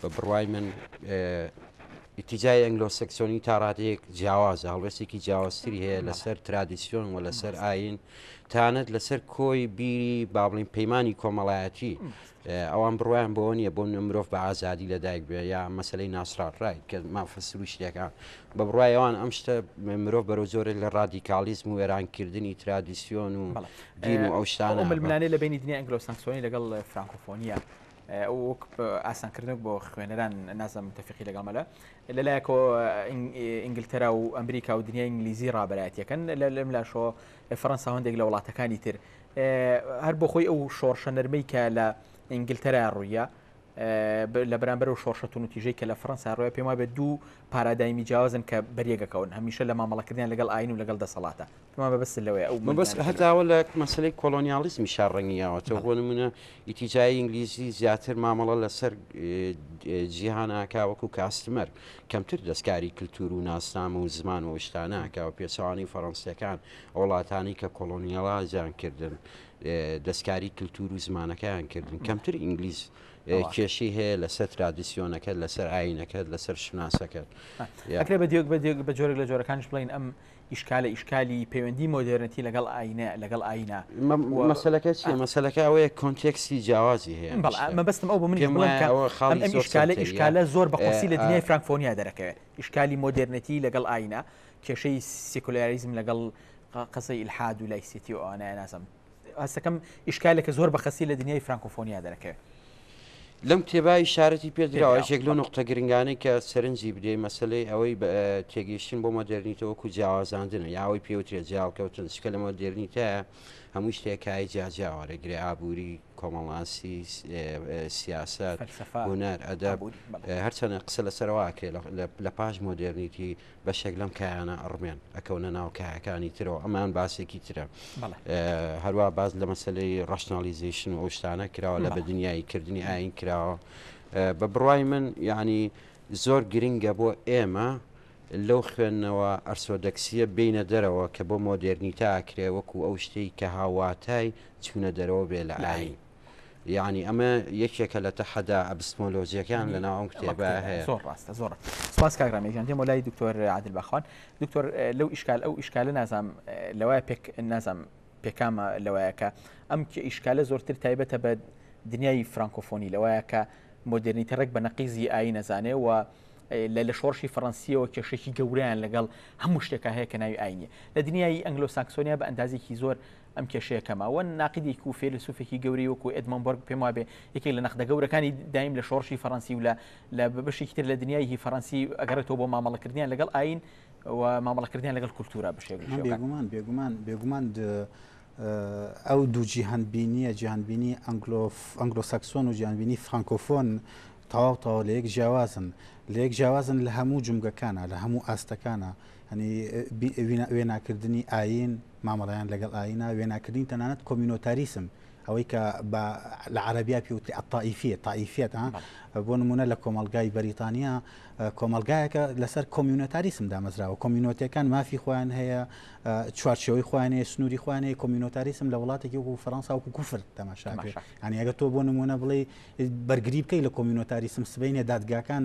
[SPEAKER 1] بە بڕوای من ئیتیجای ئەنگلۆسەکسۆنی تا ڕادەیەک جیاوازە هەڵوێستێکی جیاوازتری هەیە لەسەر ترادیسیۆن و لەسەر ئاین تانەت لەسەر کۆی بیری بابلین پەیمانانی کۆمەڵایەتی ئەوان بڕوایان بۆ نییە بۆ مرۆڤ بە ئازادی لەدایک بێ یا مەسلەی ناسراڕای کە مافە سروشتەکان بە بڕایەوان ئەم شتە مرۆڤ بەرەو زۆرێک لە ڕادیکالیزم و وێرانکردنی ترادیسیۆن و دین و ئەو شتانە ئەو ململانێ لە بینی دنیا ئەنگلۆسەکسۆنی لەگەڵ فرانکۆفۆنیە وەک ئاسانکردنەوەک بۆ خوێنەران نازم تەفیقی لەگەڵ مەلە لەلایەکەوە ئینگلتەرا و ئەمریکا و دنیای ئینگلیزی ڕابەتەکەن لەم لاشۆ فەرەنسا هەندێک لە وڵاتەکانی تر هەر بۆ خۆی ئەو شۆڕشە نەرمەی کە لە ئینگلتەرا ڕوویە لە بەرامبەر و شۆشەتون و تیژەی کە لە فەنسا ڕۆە پێما بێت دوو پارادایمی جیاوازن کە بەریەکەکەون هەمیشە لە مامەڵەکردیان لەگەڵ ئاین و لەگەڵ دەسەڵاتە کما مەبەستت لەوەیە ئەو مەبەست ململانێ هەر هەتاوە لە مەسەلەی کۆڵۆنیاڵیزمی شار ڕەنگیاوەتەوە بەڵێ. بۆ نموونە ئیتیجای ئینگلیزی زیاتر مامەڵە لەسەر جیهان ئاکا وەکوو کاستمەر کەمتر دەستکاری کلتوور و ناسنامە و زمان و ئەو شتانە ئاکا و پێچەوانەی فەڕەنسییەکان ئەو وڵاتانەی کە کۆڵۆنیاڵایزیان کردن دەستکاری کلتوور و زمانەکەیان کردن کەمتر ئینگلیز ئەوە. کێشەی هەیە لەسەر ترادیسیۆنەکەت لەسەر ئایینەکەت لەسەر شوناسەکەت یا. ئەکرێ بە دیۆک بە دیۆک بە جۆرێک لە جۆرەکانیش بڵێین ئەم ئیشکالە ئیشکالی پەیوەندی مۆدێرنتی لەگەڵ ئاینە لەگەڵ ئاینە مەسەلەکە چیە مەسەلەکە ئەوەیە کۆنتێکسی جیاوازی هەیە مەبستم ئەو بە منی ئیشکالە ئیشکالە زۆر بە قورسی لە دنیای فرانکفۆنیا دەرەکەوێت ئیشکالی مۆدێرنەتی لەگەڵ ئاینە کێشەی سیکولیاریزم لەگەڵ قسەی الحاد و لایسیتی و ئەوانە نازم هەستەکەم ئیشکالێکە زۆر بەخەسی لە دنیای فرانکۆفۆنیا دەرەکەوێ. لەم کتێبا ئیشارەتی پێ دراوە پێدراوە. یەکێک لەو نوقتە گرنگانەی کە سەرنجی بدەی مەسەلەی ئەوەی بە تێگەیشتن بۆ مۆدێرنیتە وەکوو جیاوازاندنە یا ئەوەی پێ وترێ جێهەڵکەوتن چکە لە مۆدێرنیتەیا هەمووی شتێ کای جیاجیا وەرەگرێ ئابووری، کۆمەڵناسی، سیاسەت، فەلسەفە، هونەر، ئەدەب ئابووری بەڵێ. هەرچەندە قسە لەسەرەوە ئەکرێ لە لە لە پاش مۆدێرنیتی بەشێک لەم کایانە ئەڕمێن ئەکەونە ناو کایەکانی ترەوە ئەمان باسێکی ترە هەروە باز لە مەسلەی ڕشنالیزیشن و ئەوشتانە کراوە لە بە دنیایی کردنی ئاین کراوە بە بڕای من یعنی زۆر گرنگە بۆ ئێمە لەو خوێندنەوە ئەرسۆدەکسیە بینە دەرەوە کە بۆ مۆدررنیتا ئەکرێ وەکو ئەو شتەی کە هاواتای چوونە دەرەوە بێ لە ئاین یانی ئەمە یەکێکە لە تەحەدا ئەبستمۆلۆجیەکان لە ناوم کتێبە هەیە زۆر ڕاستە زۆر سپاس کاگرامێژان دێمە لای دکتۆر عادل بەخوان دکتۆر لەو ئیشکال ئەو ئیشکالە نازام لەوای پێک نازام پێکامە لەوایەکە ئەم کە ئیشکالە زۆرتر تایبەتە بە دنیای فرانکۆفۆنی لەوایە کە مۆدررنیتە ڕێک بە نەقیزی ئای نەزانێ و لە لە شۆڕشی فەڕەنسیەوە کێشێکی گەوریان لەگەڵ هەموو شتێکە هەیە کە ناوی ئاینە لە دنیای ئەنگلۆ ساکسۆنیا بە ئەندازێکی زۆر ئەم کێشەیە کەمە وە ناقیدێک و فێلسوفێکی گەورەی وەکو ئەدمۆن بەرگ پێم وابێ یەکێک لە نەخدە گەورەکانی دایم لە شۆڕشی فەڕەنسی و لە لە بەشێکی تر لە دنیایهی فەڕەنسی ئەگەڕێتەوە بۆ مامەڵەکردنیان لەگەڵ ئاین و مامەڵەکردنیان لەگەڵ کولتورا بشێ بێگومان بێگومان بێگومان ئەو دوو جیهان بینیە جیهان بینی ئەنگلۆف ئەنگلۆسەکسۆن و جیانبینی فرانکۆفۆن تەواو تەواو لە یەک جیاوازن لە یەک جیاوازن لە هەموو جمگەکانە لە هەموو ئاستەکانە یانی وێناکردنی ئایین، مامەڵەیان لەگەڵ ئایینە، وێناکردنی تەنانەت کۆمینۆتاریسم، ئەوەی کە بە لە عەرەبیا پێ وترێ الطائفیە، طائفیەت، ها، بەڵێ. بۆ نموونە لە کۆمەڵگای بەریتانیا، کۆمەڵگایەکە لەسەر کۆمینۆتاریسم دامەزراوە، کۆمینۆتەکان مافی خۆیان هەیە، چوارچێوەی خۆیان هەیە، سنووری خۆیان هەیە، کۆمینۆتاریسم لە وڵاتێکی وەکوو فەرەنسا وەکوو کوفر تەماشا ئەکرێ. تەماشا. یانی ئەگەر تۆ بۆ نموونە بڵێی بەرگری بکەی لە کۆمینۆتاریسم، سبەینێ دادگاکان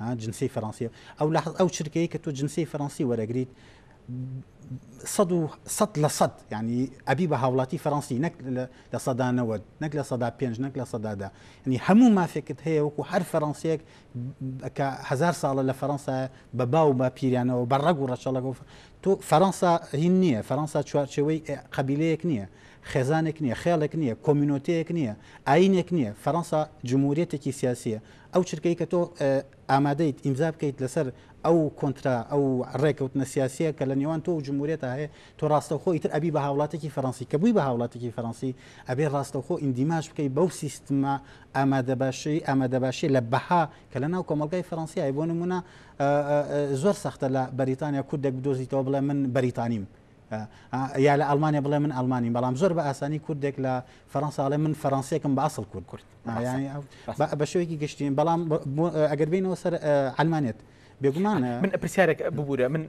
[SPEAKER 1] ها جنسیەی فەرەنسیە ئەو لەحەز ئەو چرکەیە کە تۆ جنسیەی فەرەنسی وەرەگریت سەد و سەد لە سەد ینی ئەبی بە هاوڵاتی فەرەنسی نەک لە سەدانەوە نەک لە سەدا پێنج نەک لە سەدادا ینی هەموو مافێکت هەیە وەکو هەر فەرەنسیەک کە هزار ساڵە لە فەرەنسا بە باو بە پیرانەوە بە ڕەگ و ڕەچەڵەگە تۆ فەرەنسا هین نییە فەرەنسا چوارچەوەی قبیلەیەک نییە خێزانێک نییە خێڵێک نییە کۆمینۆتەیەک نییە ئاینێک نییە فەرەنسا جمهوریەتێکی سیاسیە ئەو چرکەی کە تۆ ئامادەیت ئیمزا بکەیت لەسەر ئەو کۆنترا ئەو ڕێکەوتنە سیاسیە کە لە نێوان تۆ و جمهوریەتا هەیە تۆ ڕاستەوخۆ ئیتر ئەبی بە هاوڵاتێکی فەرەنسی کە بووی بە هاوڵاتێکی فەرەنسی ئەبێ ڕاستەوخۆ ئیندیماج بکەی بەو سیستمە ئامادەباشی ئامادەباشی لە بەها کە لە ناو کۆمەڵگای فەرەنسیای بۆ نمونە زۆر سەختە لە بەریتانیا کوردێک بدۆزیتەوە بڵێ من بەریتانیم یا لە ئەلمانیا بڵێ من ئەلمانی بەڵام زۆر بە ئاسانی کوردێک لە فەرەنساڵێ من فەرەنسیەکم بە ئەسڵ کورد کورد بە شوێکی گشتین بەڵام ئەگەر بینەوە سەر ئەلمانێت بێگومان من پرسیارێک ببوورە من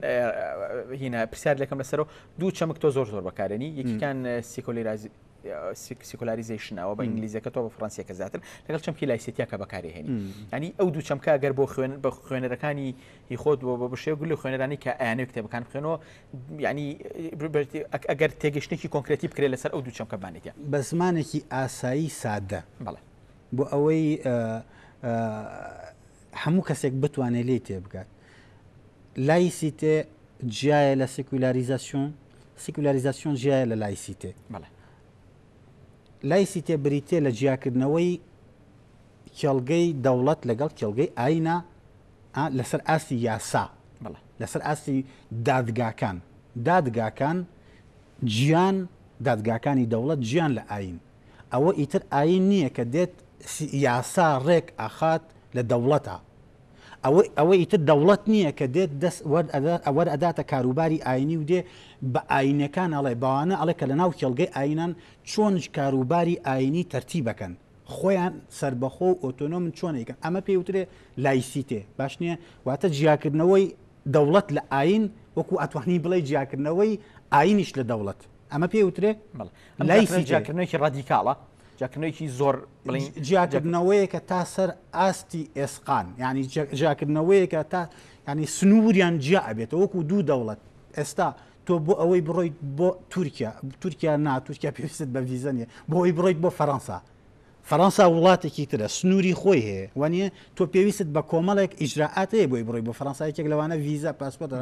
[SPEAKER 1] هینا پرسیار لەکەم لەسەرەوە دوو چەمک تۆ زۆر زۆر بەکارێنی یەکیکان سیکۆلی رازی سیکۆلاریزیشنەوە بە ئینگلیزەکە تۆ بە فڕەنسیەکە زیاتر لەگەڵ چەمکی لایسێتیاکە بەکارهێنی ئەنی ئەو دوو چەمکە گەر بۆ خوێن بە خوێنەرەکانی هی خۆت بۆ بە بشێ گول خوێنەرانی کە ئەیانێک کتێبەکان بخێنەوە یانی ئەگەر تێگەشتێکی کۆنکرێتی بکرێت لەسەر ئەو دوو چەمکە بمانێتە بە زمانێکی ئاسایی سادە بڵێ بۆ ئەوەی هەموو کەسێک بتوانێت لێ تێبگات لایسیتێ جیایە لە سیکولاریزاسیۆن سیکولاریزاسیۆن جیایە لە لایسیتێ بڵێ لایسیتێ بریتییە لە جیاکردنەوەی کێڵگەی دەوڵەت لەگەڵ کێڵگەی ئاینا لەسەر ئاستی یاسا لەسەر ئاستی دادگاکان دادگاکان جیان دادگاکانی دەوڵەت جیان لە ئاین ئەوە ئیتر ئاین نییە کە دێت یاسا ڕێک ئاخات لە دەوڵەتە ئەوە ئەوە ئیتر دەوڵەت نییە کە دێت دەست وەر ئەدات ئەوەر ئەداتە کاروباری ئاینی و دێ بە ئاینەکان ئەڵێ بەوانە ئەڵێ کە لە ناو کێڵگەی ئاینان چۆن کاروباری ئاینی تەرتیبەکەن خۆیان سربەخۆ و ئۆتۆنۆمن چۆنێکن ئەمە پێی وترێ لایسیتێ باش نییە واتە جیاکردنەوەی دەوڵەت لە ئاین وەکو ئەتوانی بڵێ جیاکردنەوەی ئاینیش لە دەوڵەت ئەمە پێی وترێ لای جیاکردنێکی ڕادیکاڵە جاکردنەوەیەکی زۆر بڵین جیاکردنەوەیەکە تا سەر ئاستی ئێسقان ینی جیاکردنەوەیەکە تا ینی سنووریان جیا ئەبێتەوە وەکو دوو دەوڵەت ئێستا تۆ بۆ ئەوەی بڕۆیت بۆ تورکیا تورکیا نا تورکیا پێویست بە ڤیزە نیە بۆ ئەوی بڕیت بۆ فەەنسا فەەنسا وڵاتێکی ترە سنووری خۆی هەیە وانە تۆ پێویست بە کۆمەڵێک ئیجرراعاتەیە بۆی بڕی بۆ فەەنسایەکێک لەوانە ڤیزە پاسپۆرت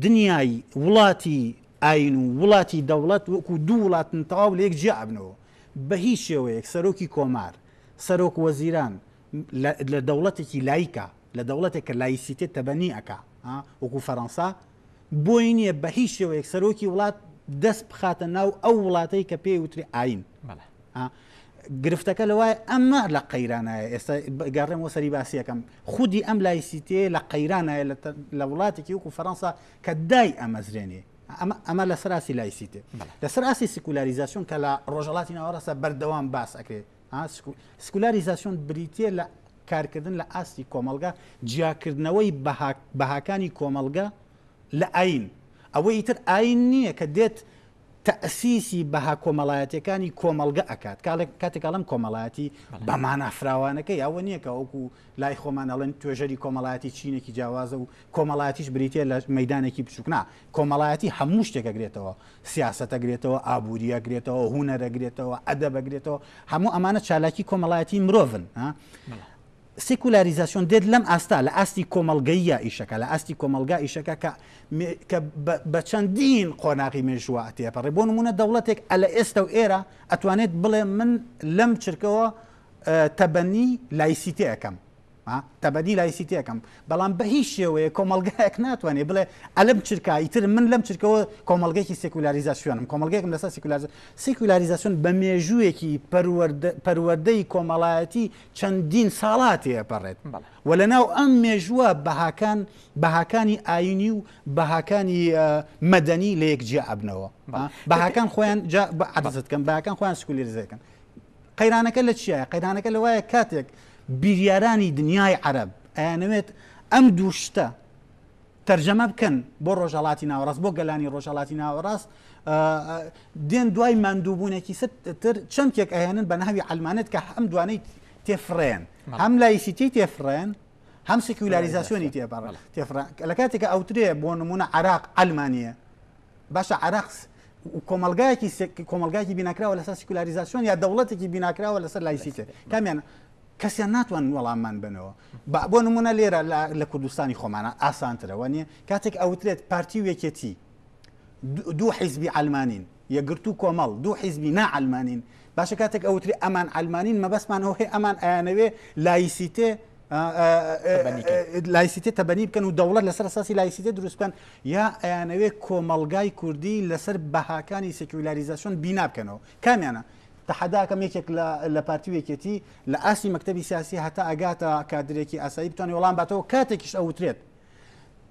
[SPEAKER 1] دنیای وڵاتی ئاین و وڵاتی دەوڵەت وەکو دوو وڵاتن تەواو لە یەک جیا ئەبنەوە بە هیچ شێوەیەک سەرۆکی کۆمار سەرۆک وەزیران لە دەوڵەتێکی لایکە لە دەوڵەتێک کە لایسیتێت تەبەنی ئەک وەکو فەەنسا بۆی نییە بە هیچ شێوەیەک سەرۆکی وڵات دەست بخاتە ناو ئەو وڵاتەی کە پێی وتری ئاین گرفتەکە لەوای ئەمە لە قەیرانایە ئێستا گەڕێمەوە سەری باسیەکەم خودی ئەم لایسیتێ لە قەیرانایە لە وڵاتێکی وکو فەەنسا کە دای ئەمەزرێنێ ئەمە ئەمە لە سەراسی لایسیتێ لەسەر ئاسی سیکولاریزاسیۆن کە لە ڕۆژەڵاتی ناوەڕاستە بەردەوام باس ئەکرێت سکولاریزاسیۆن بریتە لە کارکردن لە ئاستی کۆمەلگا جیاکردنەوەی بەهاکانی کۆمەلگا لە ئاین ئەوەی تر ئاین نییە کە دێت تەئسیسی بەها کۆمەڵایەتیەکانی کۆمەڵگە ئەکات کاڵێک کاتێک ئەڵێم کۆمەڵایەتی بەمانا فراوانەکەی ئەوە نییە کە وەکو لای خۆمان ئەڵێن توێژەری کۆمەڵایەتی چینێکی جیاوازە و کۆمەڵاتیش بریتە لە مەدانێکی بچووکنا کۆمەڵایەتی هەموو شتێکەگرێتەوە سیاستەگرێتەوە ئابوووریەگرێتەوە هوونەرەگرێتەوە ئەدەبەگرێتەوە هەموو ئەمانە چالاکی کۆمەڵایەتی مرۆڤن سیکولاریزاسیۆن دێت لەم ئاستە، لە ئاستی کۆمەڵگەییە ئیشەکە، لە ئاستی کۆمەڵگا ئیشەکە کە کە بە چەندین قۆناغی مێژووە تێپەڕێ، بۆ نموونە دەوڵەتێک ئە لە ئێستە و ئێرە ئەتوانێت بڵێ من لەم چرکەوە تەبەنی لایسیتێ ئەکەم، تەبەدی لایسیتێکم بەڵام بە هیچ شێوەیە کۆمەلگایەک ناتوانێت بڵێ ئەلم چرکە ئیتر من لەم چرکەوە کۆمەلگەێکی سیکولاریزاسیۆنم کۆمەلگەێکم لەسەر سیکولار سیکولاریزاسیۆن بە مێژوویەکی پەروەردەی کۆمەڵایەتی چەندین ساڵە تێپەڕێت و لەناو ئەم مێژووە بەهاکان بەهاکانی ئاینی و بەهاکانی مەدەنی لە یەک جیا ئەبنەوە بەهاکان خۆیان عدزت کەم باکان خۆیان سکولێرزەکەن قەیرانەکە لە چیە قەیرانەکە لە وایە کاتێک بیریارانی دنیای عرب ئەیانەوێت ئەم دوو شتە تەرجەمە بکەن بۆ ڕۆژهەڵاتی ناوەڕاست بۆ گەلانی ڕۆژهەڵاتی ناوەڕاست دێن دوای ماندووبوونێکی تر چەمکێک ئەهێنن بە ناوی ئەلمانێت کە هەم دوانەی تێفرێن هەم لایسیتی تێفرێن هەم سیکولاریزاسیۆنی تێبڕ تێفران لە کاتێکە ئەوترێ بۆ نمونە عراق ئەلمانە باشە عراقس کۆمەلگایەکی کۆمەلگایکی بیناکراوە لەسەر سیکولاریزاسیۆن یا دەوڵەتێکی بیناکراوە لەسەر لایسیتێ کامیان کەسیان ناتوانن وەڵاممان بەنەوە با بۆ نمونە لێرە لە کوردستانی خۆمانە ئاسانترە وەنیە کاتێک ئەوترێت پارتی و یەکێتی دوو حیزبی ئەلمانین یەگرتو کۆمەڵ دوو حیزبی ناعلمانین باشە کاتێک ئەوتری ئەمان ئەلمانین مەبەستمان ئەوهی ئەمان ئەیانەوێ لایسیتێ لایسیتێ تەبەنی بکەن و دەوڵەت لەسەر ساسی لایسیتێ دروستکەن یا ئەیانەوێ کۆمەلگای کوردی لەسەر بەهاکانی سکولاریزاسیۆن بینابکەنەوە کامیانە تەحەدا ئەکەم یەکێک لە لە پارتی و یەکێتی لە ئاستی مەکتەبی سیاسی هەتا ئەگاتە کادرێکی ئاسایی بتوانێت وەڵام باتەوە کاتێکیش ئەوترێت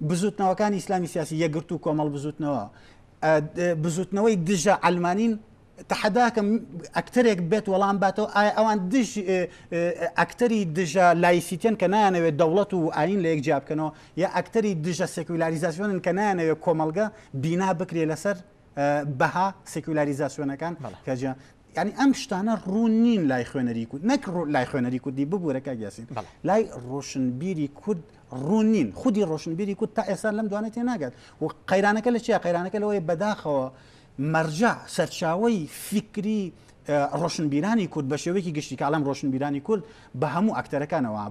[SPEAKER 1] بزوتنەوەکانی ئیسلامی سیاسی یەگرت و کۆمەڵ بزوتنەوە بزوتنەوەی دژە ئەلمانین تحداکەم ئەکتەرێک بێت وەڵام باتەوە ئایا ئەوان دژ ئەکتەری دژە لایسیتێن کە نایانەوێت دەوڵەت و ئاین لە یەک جیابکەنەوە یا ئەکتەری دژە سکولاریزاسیۆنن کە نایانەوێت کۆمەلگە بینا بکرێ لەسەر بەها سیکولاریزاسیۆنەکان کەجا ینی ئەم شتانە ڕوون نین لای خوێنەری کورد نەک لای خوێنەری کوردی ببوورە کاگیاسین لای ڕۆشنبیری کورد ڕوون نین خودی ڕۆشنبیری کورد تا ئێستا لەم دوانێت تێ ناگات و قەیرانەکە لە چیا قەیرانەکە لەوەی بەداخەوە مەرجە سەرچاوی فیکری ڕۆشنبیرانی کورد بە شێوەیەکی گشتی کاڵم ڕۆشنبیرانی کورد بە هەموو ئەکتەرەکانەوە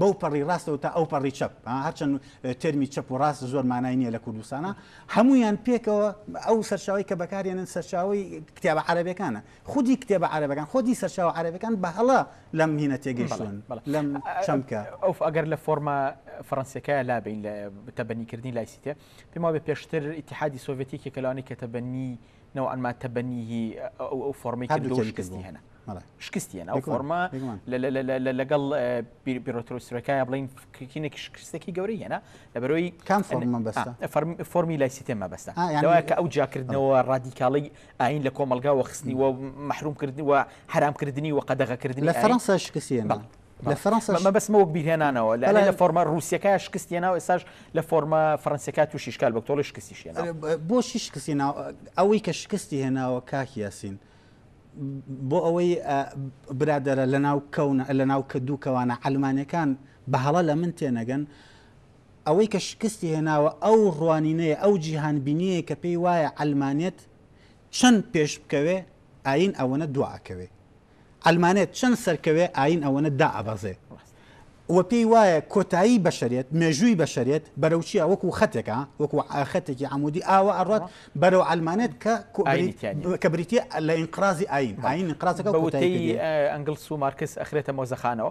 [SPEAKER 1] بەو پەڕی ڕاستەوە تا ئەو پەڕی چەپ هەرچەند تەرمی چەپ و ڕاست زۆر مانای نییە لە کوردستانە هەمویان پێکەوە ئەو سەرچاوی کە بەکارێنن سەرچاوی کتێبە عربەکانە خودی کتێبە عربەکان خۆدی سەرچاو عربەکان بە هەڵە لەم هینە تێگەیشتون لەم چەمکە ئەو ئەگەر لە فۆرما فەرەنسیەکە لابین لە تەبەنیکردنی لایسیتێ پێما بە پێشتر ئتیحادی سۆڤێتیکی کەلانی کە تەبەنی نوعا ما تبنیه ئەو ئەو فۆڕمەی کرد و شکستی هێنا شکستی هێنا ئەو فۆڕمە لەگەڵ بیرۆترۆ سرەکایە بڵین کینێکی شکستێکی گەورەی هێنا لەبەرەوەی کام فۆرمە بەستە فۆرمی لای سیتێ مەبەستە لەوە کە ئەو جاکردنەوە ڕادیکاڵی ئاین لە کۆمەلگا وە خستنی وە محروم کردنی وە حرامکردنی وە قەدەغەکردنی لە فەرەنسا شکستی هێنا لە فەرەنساش مەبەستمە وەک بیرهێنانەوە لە لە فۆرمە ڕوسیەکە شکستی هێناوە ئێساش لە فۆرمە فەرەنسیەکە تووشی شکال بە تۆڵی شکستی شێنە بۆشی شکستی ئەوەی کە شکستی هێناوە کاکی یاسین بۆ ئەوەی برادرە لە ناو کەونە لە ناو کە دوو کەوانە ئەلمانەکان بە هەڵە لە من تێنەگەن ئەوەی کە شکستی هێناوە ئەو ڕوانینەیە ئەو جیهان بینیە کە پێی وایە ئەلمانێت چەند پێش بکەوێ ئاین ئەوەنە دواکەوێ عەلمانێت چەند سەرکەوێ ئایین ئەوەنە دائەبەزێ و پێی وایە کۆتایی بەشەرێت مێژووی بەشەرێت بەرەو چیە وەکو خەتێکە وەکو خەتێکی عەمودی ئاوە ئەڕات بەرەو عەلمانێت کە کە بریتە لە ئینقرازی ئایین ئایین ئینقرازەکە بە وتەی ئەنگلس و مارکس ئەخرێتە مۆزەخانەوە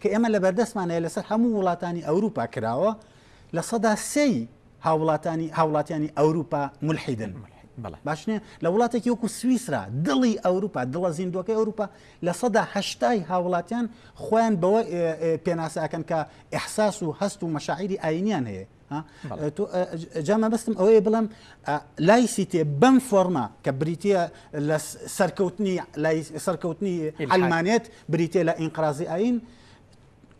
[SPEAKER 1] کە ئێمە لەبەردەستمان هەیە لەسەر هەموو وڵاتانی ئەوروپا کراوە لە سەدا سێی هاوڵاتانی هاوڵاتیانی ئەوروپا ملحیدن باشنێ لە وڵاتێکی وەکو سوئیسرا دڵی ئەوروپا دڵە زیندوەکەی ئەوروپا لە سەدا هەشتای هاوڵاتیان خۆیان بەوە پێناسەکەن کە ئەحساس و هەست و مەشاعری ئاینیان هەیە جا مەبستم ئەوەیە بڵم لای سیتێ بەم فۆرما کە بریتە لە سەرکەوتنی لای سەرکەوتنی ئەلمانێت بریتە لە ئینقرازی ئاین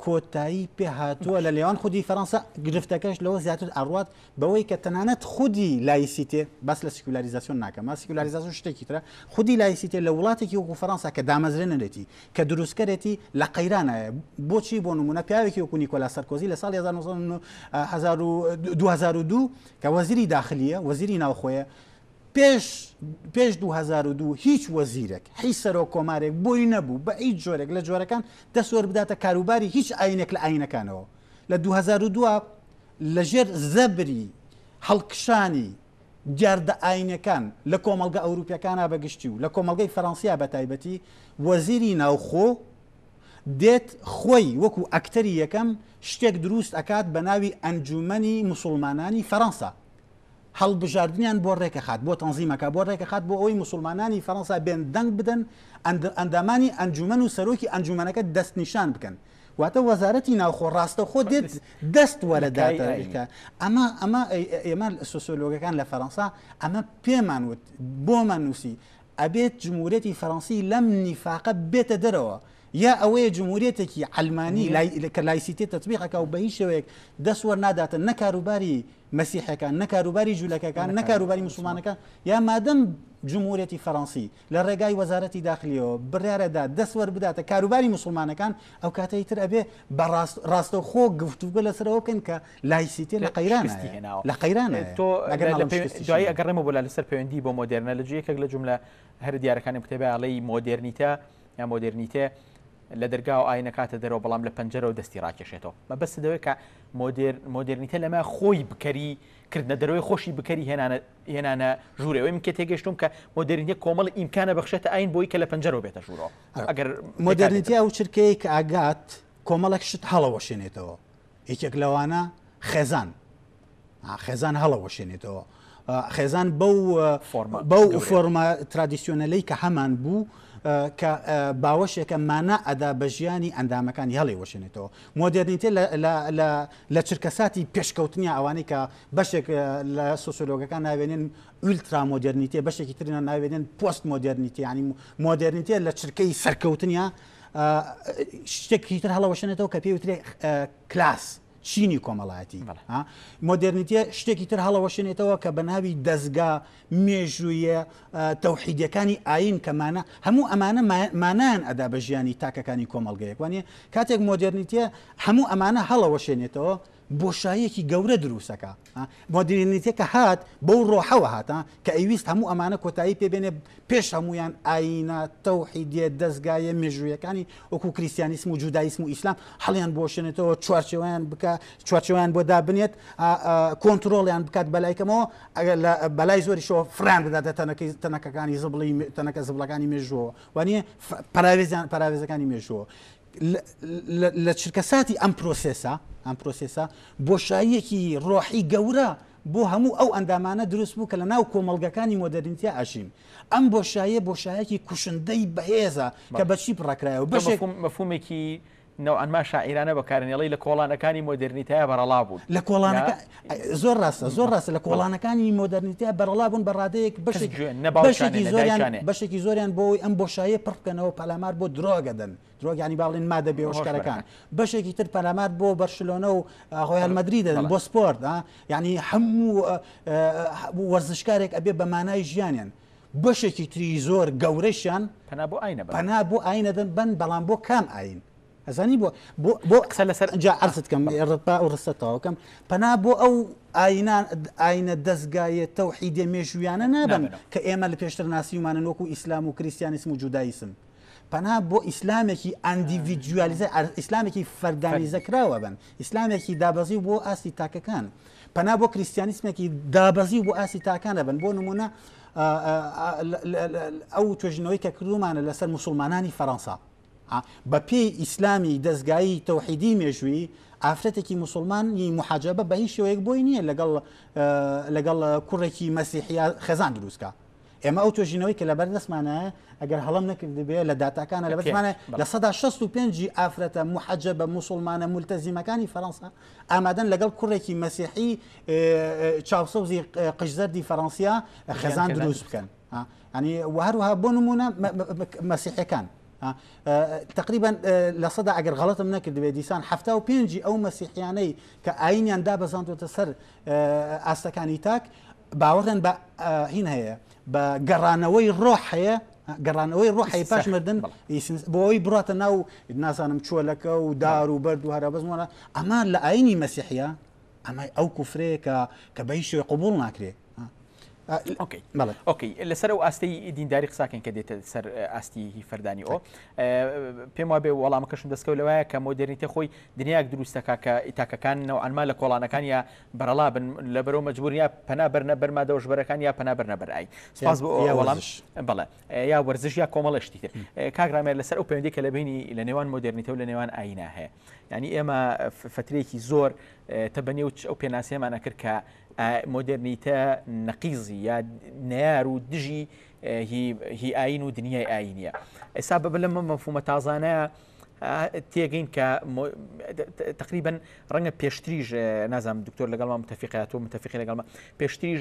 [SPEAKER 1] کۆتایی پێ هاتووە لە لێوان خودی فەرەنسا گرفتەکەش لەوە زیاتر ئاڕات بەوەی کە تەنانەت خودی لایسیتێ بەس لە سیکولاریزاسیۆن ناکەم سیکولاریزاسیۆن شتێکی ترە خودی لایسیتێ لە وڵاتێکی وەکو فەرەنسا کە دامەزرێنەرێتی کە دروستکەرێتی لە قەیرانایە، بۆچی بۆ نموونە پیاوێکی وەکو نیکۆلا سەرکۆزی لە ساڵی هەزار و نۆ سەد و هەزار و دوو هەزار و دوو کە وەزیری داخلیە وەزیری ناوخۆیە پێش پێش 2002 هیچ وەزیرێک حی سەرۆک کۆمارێک بۆی نەبوو بە هیچ جۆرێک لە جۆرەکان دەسوەر بداتە کاروباری هیچ ئاینێک لە ئاینەکانەوە لە 2002 لەژێر زەبری هەڵکشانی دیاردە ئایینیەکان لە کۆمەڵگە ئەوروپیەکانا بە گشتی و لە کۆمەڵگەی فەرەنسیا بە تایبەتی، وەزیری ناوخۆ دێت خۆی وەکو ئەکتەری یەکەم شتێک دروست ئەکات بە ناوی ئەنجومەنی موسوڵمانانی فەرەنسا هەڵبژاردنیان بۆ رێکەخات بۆ تەنزیم ئەکات بۆ رێکەخات بۆ ئەوەی موسوڵمانانی فەرەنسا بێن دەنگ بدەن ئەندامانی ئەنجومەن و سەرۆکی ئەنجومەنەکە دەستنیشان بکەن واتە وەزارەتی ناوخۆ ڕاستەوخۆ دێت دەست وەرە داتا بیکە ئەمە ئەمە ئێمە سوسۆلۆگەکان لە فەرەنسا ئەمە پێمان وت بۆمان نووسی ئەبێت جمهورەتی فەرەنسی لەم نیفاقە بێتە دەرەوە یا ئەوەیە جمهورێتێکی ئەلمانی کە لایسیتێ تطببیقەکە و بە هیچ شوێک دەستوەەر ناداتن نە کاروباری مەسیحەکان نە کاروباری جوولەکەکان نە کاروباری مسلمانەکان یا مادەم جمهورەتی فەرەنسی لە ڕێگای وەزارەتی داخلیەوە بڕیارەدا دەست وەربداتە کاروباری موسڵمانەکان ئەو کاتەی تر ئەبێ بە ڕاستە خۆ گفتوگە لەسەرەوە بکەن کە لایسیتێ لە قەیران هێناوە لە قەیران تۆ دوایی ئەگەڕێمە بۆ لا لەسەر پەیوەندی بۆ مۆدررنە لە جوەکێک لە جملە هەر دیارەکانی کتێبیاڵی مۆدررنیتە یا مۆدررنیتێ لە دەرگا و ئاینە کاتە دەرەوە بەڵام لە پەنجەرە و دەستی ڕاکێشێتەوە مە بەس دەوێت کە مۆدررنیتە لەمە خۆی بکەری کردنە دەرەوەی خۆشی بکەری هێنانە هێنانە ژوورێ ئەوەی من کێ تێگەشتوم کە مۆدرنیە کۆمەڵی ئیمکانە بەخشێتە ئاین بۆی کە لە پەنجەرەوە بێتە ژوورەوە ئەگەر مۆدرنیتیا و چرکەیە کە ئاگات کۆمەڵێک شت هەڵەوەشێنێتەوە یەکێک لەوانە خێزان خێزان هەڵەوەشێنێتەوە خێزان بەو بەو فۆرمە ترادیسیۆنەلەی کە هەمان بوو کە باوەشێکە مانا ئەدا بە ژیانی ئەندامەکانی هەڵی وەشێنێتەوە مۆدررنیتە لە چرکەساتی پێشکەوتنی ئەوانەی کە بەشێک لە سۆسیۆلۆگەکان ناوێنێن ئولترا مۆدررنیتێ بەشێکی ترنا ناوێنێن پۆست مۆدررنیتی ینی مۆدررنیتێ لە چرکەی سەرکەوتنیا شتێکی تر هەڵەوەشێنێتەوە کە پێی وترێ کلاس چینی کۆمەڵایەتی مۆدررنیتە شتێکی تر هەڵەوەشێنێتەوە کە بە ناوی دەستگا مێژوویە تەوحیدەکانی ئاین کەمانە هەموو ئەمانە مانان ئەدا بە ژیانی تاکەکانی کۆمەلگەیەک وانە کاتێک مۆدررنیتە هەموو ئەمانە هەڵەوەشێنێتەوە بۆشاییەکی گەورە دروستەکا. مۆدیرنیتە کە هات بەو ڕۆحەوە هات کە ئەیویست هەموو ئەمانە کۆتایی پێ بێنێ پێش هەموویان ئایینە تەوحیدیە دەزگایە مێژوویەکانی وەکو کریستیانیسم و جودایسم و ئیسلام هەڵیان بۆشێنێتەوە چوارچێوەیان بکا چوارچێوەیان بۆ دابنێت کۆنترۆڵیان بکات بەلای کەمەوە ئەگەر لە بەلای زۆریشەوە فران بداتە تەنەکەی تەنەکەکانی زبڵی تەنەکە زبڵەکانی مێژووەوە وانە پەراوێزیان پەراوێزەکانی مێژووە لە چرکەساتی ئەم پرۆسێسە ئەم پرۆسێسە بۆشاییەکی ڕۆحی گەورە بۆ هەموو ئەو ئەندامانە دروست بوو کە لە ناو کۆمەلگەکانی مۆدررینتیا ئەژین ئەم بۆشایە بۆشایەکی کوشندەی بەهێزە کە بەچی بڕکرایەوە بەشێک مەفومێکی نەوانما شاعیرانە بەکارنێڵی لە کۆڵانەکانی مۆدررنیتای بەرەڵا بوون لە کۆڵانەکە زۆر ڕاستە زۆر ڕاستە لە کۆڵانەکانی مۆدەرنیتە بەرەڵا بوون بە ڕادەیەک بەشێک بەشێکی زۆریان بەشێکی زۆریان بۆی ئەم بۆشایە پڕ بکەنەوە پەلامار بۆ درۆگەدەن درۆگانی باڵێن مادە بێوەشکەرەکان بەشێکی تر پەلامار بۆ بەرشلۆنە و هۆیان مەدری دەدەن بۆ سپۆرت ینی هەموو وەرزشکارێک ئەبێ بە مانای ژیانیان بەشێکی تری زۆر گەورەشیان پنا بۆ ئاینە پنا بۆ ئاینەدەن بن بەڵام بۆ کام ئاین ئەزانی بۆ بۆ بۆ قسە لەسەر ئەجا عرضت کەم ڕپا و ڕستە تەواوکەم پەنا بۆ ئەو ئاینان ئاینە دەستگایە تەوحیدێ مێژویانە نابن کە ئێمە لە پێشتر ناسیومانە وەکو ئیسلام و کریسیانیسم و جودایسم پەنا بۆ ئیسلامێکی ئەندیڤیدیالیزە ئیسلامێکی فەردانیزە کراوە بن ئیسلامێکی دابەزی بۆ ئاستی تاکەکان پەنا بۆ کریسیانیسمێکی دابەزی بۆ ئاستی تاکانە بن بۆ نمونە ئەو توێژنەوەی کە کردومانە لەسەر مسلمانانی فەەنسا بە پێی ئیسلامی دەستگایی تەوحیدی مێژووی ئافرەتێکی مسلمانی محەجەبە بە هیچ شێوەیەک بۆی نییە لەگەڵ لەگەڵ کوڕێکی مەسیحیا خێزان دروستکە ئێمە ئەو توێژینەوەی کە لە بەردەستمانە ئەگەر هەڵم نەکردبێ لە داتاکانە لە بەردمانە لە سەدا 65 ئافرەتە محەجە بە مسلمانە ملتەزیمەکانی فەرەنسا ئامادەن لەگەڵ کوڕێکی مەسیحی چاوسەوزی قژزەردی فەرەنسیا خێزان دروست بکەن. ها ینی وهروها بۆ نمونە مەسیحەکان تقریبا لە سەدا ئەگەر غڵەتم نەکردبێ دیسان ه و پێنجی ئەو مەسیحیانەی کە ئاینیان دابەزاندوتە سەر ئاستەکانی تاک باوەڕێن بە هین هەیە بە گەڕانەوەی ڕۆح هەیە گەڕانەوەی ڕۆحی پاش مردن بۆی بڕاتە ناو نازانم چۆلەکە و دار و بەرد و هەرا بەزمانە ئەمان لە ئاینی مەسیحە ئەمە ئەو کوفرەیە کە کە بە هیچ شوێ قوبول ناکرێت ئۆکەی بەڵێ ئۆکەی لەسەر ئەو ئاستی دینداری قساکەن کە دێتە سەر ئاستی هی فەردانی ئەو پێم وابێ وەڵامەکەشم دەستکەوت لەوەیە کە مۆدررنیتە خۆی دنیاک دروستەکە کە ئیتاکەکان نەوانما لە کۆڵانەکان یا بەرەڵا بن لە بەرەو مەجبور یا پەنا بەرنە بەرمادەوەش بەرەکان یا پەنا بەرنە بەرایی سپاس بۆ وەڵامش بڵێ یا وەرزش یا کۆمەڵە شتی تر کاک ڕامێر لەسەر ئەو پەیوەندی کە لە بینی لە نێوان مۆدررنیتە و لە نێوان ئاینا هەیە ینی ئێمە فترێکی زۆر تە بە نێوچ ئەو پێناسێمانە کرد کە مۆدررنیتە نەقیزی یا نار و دژی هی ئاین و دنیای ئاینە ئێستا بە لە مەفومە تازانە تێگەین کە تقریبن ڕەنگە پێشتریش نازانم دکتۆر لەگەڵمان متفقات و متفقی لەگەڵمە پێشتریش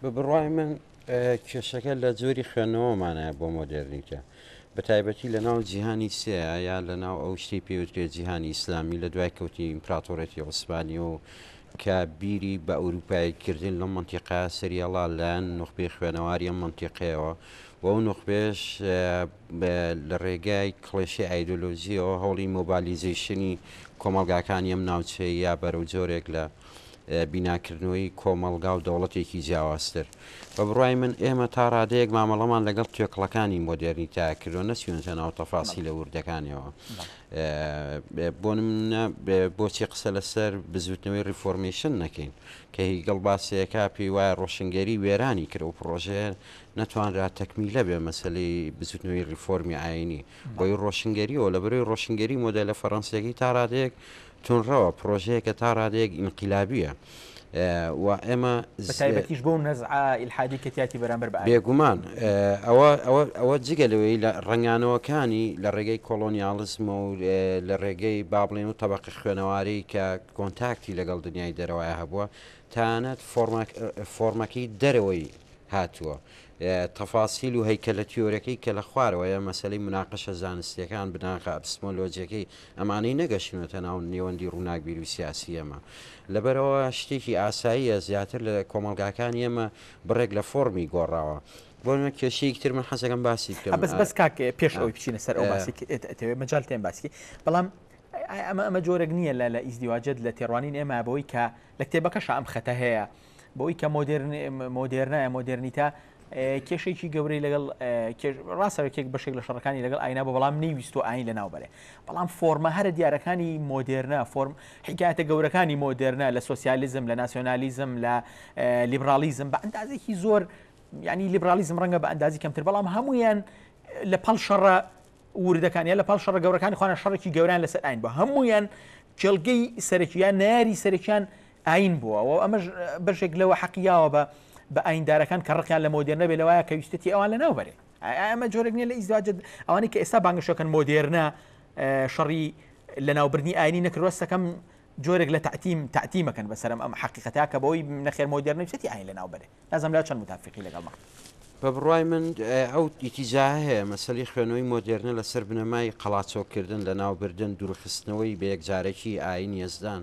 [SPEAKER 1] بە بڕای من کێشەکە لە جۆری خوێندنەوەمانە بۆ مۆدێرنیتە بە تایبەتی لە ناو جیهانی سەیە یا لە ناو ئەو شتی پێوترێت جیهانی ئیسلامی لە دوای کەوتی ئیمپراتۆرێتی عوسمانی و کە بیری بە ئەوروپاییکردن لەم منتیقا سریاڵا لایەن نوخبی خوێنەواری ئەم منتیقەیەوە و ئەو نوخبێش لە ڕێگای کڵێشی ئایدۆلۆژیەوە هەوڵی مۆبالیزیشنی کۆمەلگاکانی ئەم ناوچەیە بەرەو جۆرێک لە بیناکردنەوەی کۆمەڵگا و دەوڵەتێکی جیاوازتر. بە بڕوای من ئێمە تا ڕادەیەک مامەڵەمان لەگەڵ توێکڵەکانی مۆدێرنیتە کردووە، نەچووینەتە ناو تەفاسیلە وردەکانیەوە. بۆ نموونە بۆچی قسە لەسەر بزووتنەوەی ڕیفۆرمەیشن نەکەین، کە هیگڵ باسی دەکات، پێی وایە ڕۆشنگەری وێرانی کرد، ئەو پڕۆژەیە نەتوانرا تەکمیلە بێ مەسەلەی بزووتنەوەی ڕیفۆرمی ئایینی. بۆی ڕۆشنگەرییەوە، لەبەرئەوەی ڕۆشنگەری مۆدێلە فەرەنسییەکەی تا ڕادەیەک توندڕەوە، پڕۆژەیەکە تا ڕادەیەک ئینقیلابییە و ئێمە. بە تایبەتیش بەو نەزعە ئیلحادیی کە تیاتی بەرامبەر بە ئایین. بێگومان ئەوە ئەوە ئەوە جگە لەوەی لە ڕەنگانەوەکانی لە ڕێگەی کۆڵۆنیاڵیزمە و لە ڕێگەی با بڵێین و تەبەقە خوێنەوارەی کە کۆنتاکتی لەگەڵ دنیای دەرەوەی هەبووە تەنانەت فۆڕمەک فۆڕمەکەی دەرەوەی هاتووە تەفاسیل و هەیکەلە تیۆرەکەی کە لە خوارەوەیە مەسەلەی مناقەشە زانستییەکان بناغە ئەپستمۆلۆجییەکەی ئەمانەی نەگەشتونەتە ناو نێوەندی ڕووناکبیر و سیاسی ئێمە. لەبەرئەوە شتێکی ئاساییە زیاتر لە کۆمەڵگاکانی ئێمە بڕێک لە فۆڕمی گۆڕاوە. بۆ نموونە کێشەیەکی تر من حەز ئەکەم باسی بکەم. بەس بەس کاک پێش ئەوەی بچینە سەر ئەو باسەی کە ئێت ئەتەوێ مەجال تێن باسی کەی بەڵام ئەمە ئەمە جۆرێک نییە لە لە ئیزدیواجت لە تێڕوانین ئێمە بەوەی کە لە کتێبەکەشا ئەم خەتە هەیە. بۆی کە مۆدێرنە مۆدێرنیتە کێشێکی گەورەی لەگەڵ ڕاستەکێک بەشێک لە شەڕەکانی لەگەڵ ئاینا بە بەڵام نەیویست و ئاین لە ناوبەرێ بەڵام فۆرمە هەرە دیارەکانی مۆدێرنە فۆرم حکایەتە گەورەکانی مۆدێرنە لە سوسیالیزم لە ناسیۆنالیزم لە لیبرالیزم بە ئەندازێکی زۆر ینی لیبرالیزم ڕەنگە بە ئەندازی کەمتر بەڵام هەمویان لە پەڵ شەڕە وردەکانیان لە پاڵ شەڕە گەورەکانی خوانە شەڕێکی گەوران لەسەر ئاین بە هەمویان کێڵگەی سەرەکییان ناری سەرەکیان ئایین بووە و ئەمەش بەشێک لەوە حەقی یاوە بە بە ئایندارەکان کە ڕقیان لە مۆدێرنە بێ لەوایە کە ویستێتی ئەوان لە ناو بەرێ ئەمە جۆرێک نیە لە ئیزدواج ئەوانی کە ئێستا بانگشەکەن مۆدێرنە شەڕی لە ناوبردنی ئاینی نەکروەستەکەم جۆرێک لە تعتیم تعتیمەکەن بەسەرم ئەم حقیقەتا کە بەوەی نەخێر مۆدێرنەویستی ئاین لە ناو بەرێ لازم لا چەند متافقی لەگەڵمە بە بڕای من ئەو ئیتیزا هەیە مەسەلی خوێنەوەی مۆدێرنە لەسەر بنەمای قەڵاچۆکردن لە ناوبردن دوورخستنەوەی بە یەکجارەکی ئاین یەزدان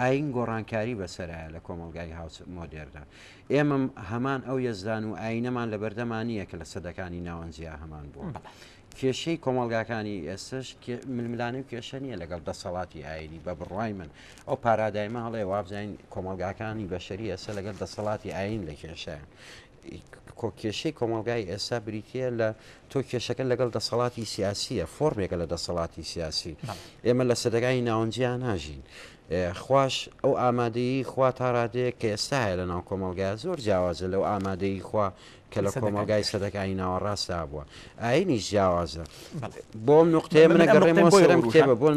[SPEAKER 1] ئایین گۆڕانکاری بەسەرایە لە کۆمەڵگای هاوس مۆدێرنە. ئێمە هەمان ئەو یەزدان و ئایینەمان لەبەردەما نییە کە لە سەدەکانی ناوەنجیا هەمان بووە. کێشەی کۆمەڵگاکانی ئێستەش ململانێ و کێشە نییە لەگەڵ دەسەڵاتی ئایینی بە بڕوای من. ئەو پارادایمە هەڵەیە وابزانین کۆمەڵگاکانی بەشەری ئێستە لەگەڵ دەسەڵاتی ئایین لە کێشەیە. کۆ کێشەی کۆمەڵگای ئێستا بریتیە لە تۆ کێشەکە لەگەڵ دەسەڵاتی سیاسیە فۆرمێکە لە دەسەڵاتی سیاسی ئێمە لە سەدەگای ناونجیا ناژین خوش ئەو ئامادەی خوا تا ڕادەیە کە ئێستا هەیە لە ناو کۆمەلگای زۆر جیاوازە لەو ئامادەی خوا کە لە کۆمەلگای سەدەکانی ناوەڕاستا بووە ئاینی جیاوازە بۆ نقطێ منە گەڕێمەوە سەرم کتێبە بۆ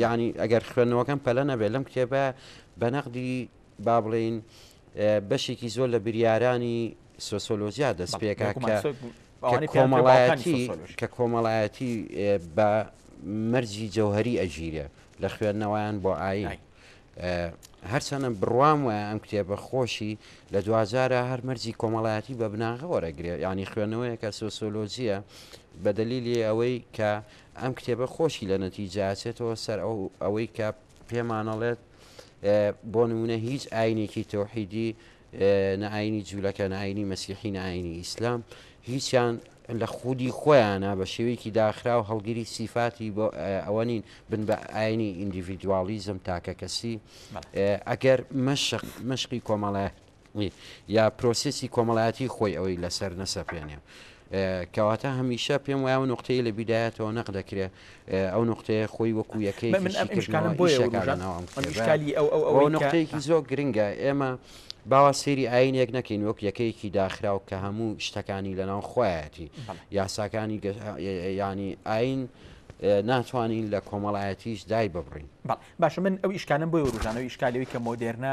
[SPEAKER 1] ینی ئەگەر خوێندنەوەکەم پەلە نەبێت لەم کتێبە بە نەقدی با بڵێین بەشێکی زۆر لە بریارانی سۆسۆلۆژیا دەست پێکا کە کۆمەڵایەتی کە کۆمەڵایەتی بە مەرجی جەوهری ئەژیرە لە خوێندنەوەیان بۆ ئاین هەرچەنە بڕوام وایە ئەم کتێبە خۆشی لە دوجارە هەر مەرجی کۆمەڵایەتی بە بناغە وەرەگرێت ینی خوێنەوەیە کە سۆسۆلۆژیە بەدەلیلی ئەوەی کە ئەم کتێبە خۆشی لە نەتیجاچێتەوە سەر ئەو ئەوەی کە پێمانەڵێت بۆ نمونە هیچ ئاینێکی تەوحیدی نە ئاینی جوولەکە نە ئاینی مەسیحی نە ئاینی ئیسلام هیچیان لە خودی خۆیانە بە شێوەیەکی داخرا و هەڵگیری سیفاتی بۆ ئەوە نین بن بە ئاینی ئیندیڤیدوالیزم تاکە کەسی ئەگەر مەشق مشقی کۆمەڵایەت یا پرۆسێسی کۆمەڵایەتی خۆی ئەوەی لەسەر نەسەپێنێ. کەواتە هەمیشە پێم وایە ئەو نوقتەی لە بیدایەتەوە نەق دەکرێ ئەو نوقتەیە خۆی وەکو یەکەیەکی شیکردنەوە ئیشەکان لەناو ئەم کتێبە و نوقتەیەکی زۆر گرنگە ئێمە باوا سەیری ئاینێک نەکەین وەک یەکەیەکی داخراو کە هەموو شتەکانی لەناو خۆیەتی یاساکانی ینی ئاین ناتوانین لە کۆمەڵایەتیش دای ببڕین باشە من ئەو ئیشکالم بۆی وروژانەوە ئیشکالەوەی کە مۆدێرنە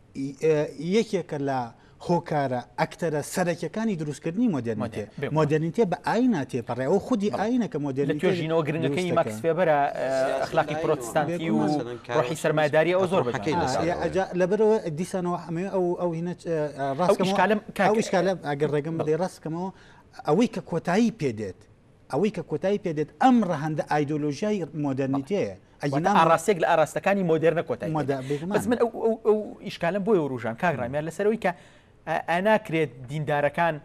[SPEAKER 1] یەکێکە لە هۆکارە، ئەکتەرە سەرەکیەکانی دروستکردنی مۆدێرنیتێ. مۆدێرنیتێ بە ئاینا تێپەڕێ، ئەوە خودی ئاینە کە مۆدێرنیتێ دروست دەکا. لە توێژینەوە گرنگەکەی ماکس فێبەرە، ئەخلاقی پرۆتستانتی و ڕۆحی سەرمایەداری ئەو زۆر بەجوانی ناسراوە. جا لەبەرئەوە دیسانەوە ئەمەوێ ئەو هینە ڕاست کەمەوە، ئەو ئیشکالە ئەگەر ڕێگەم بدەی ڕاست کەمەوە، ئەوەی کە کۆتایی پێ دێت، ئەوەی کە کۆتایی پێ دێت ئەم ڕەهەندە ئایدۆلۆژیای مۆدێرنیتەیە. واتە ئەگینا ئاڕاستەیەک لە ئاراستەکانی مۆدێرنە کۆتایی پێ مۆدە دێت. بەس بێگومان. من ئەو ئەو ئەو ئیشکالەم بۆیە ورووژاند کاک ڕامیار لەسەر ئەوەی کە ئایا ناکرێت دیندارەکان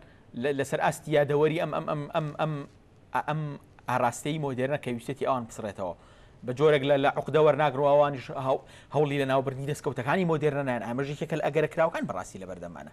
[SPEAKER 1] لە لەسەر ئاستی یادەوەری ئەم ئەم ئەم ئەم ئەم ئا ئەم ئاراستەی مۆدێرنە کە ویستێتی ئەوان بسڕێتەوە بە جۆرێک لە لە عوقدە وەرناگرن و ئەوانیش هە هەوڵی لەناوبردنی دەسکەوتەکانی مۆدێرنە نایەن ئامەش یەکێکە لە ئەگەرە کراوەکان بەڕاستی لەبەردەمانە.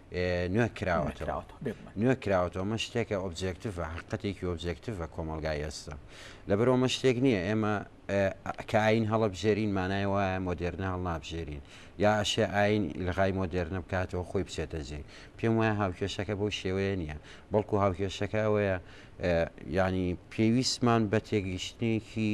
[SPEAKER 1] نوێ کراوەتەوە نوێ کراوەتەوە مە شتێکە ئۆبجێکتیڤە حقەتێکی ئۆبجێکتیڤە کۆمەلگای ئێستا لەبەرەوە مە شتێک نییە ئێمە کاین هەڵبژێرین مانای وایە مۆدێرنە هەڵنابژێرین یا ئەشێ ئاین لەغای مۆدێرنە بکاتەوە خۆی بچێتە جێ پێم وایە هاوکێشەکە بەو شێوەیە نییە بەڵکو هاوکێشەکە ئەوەیە ینی پێویستمان بە تێگەیشتنێکی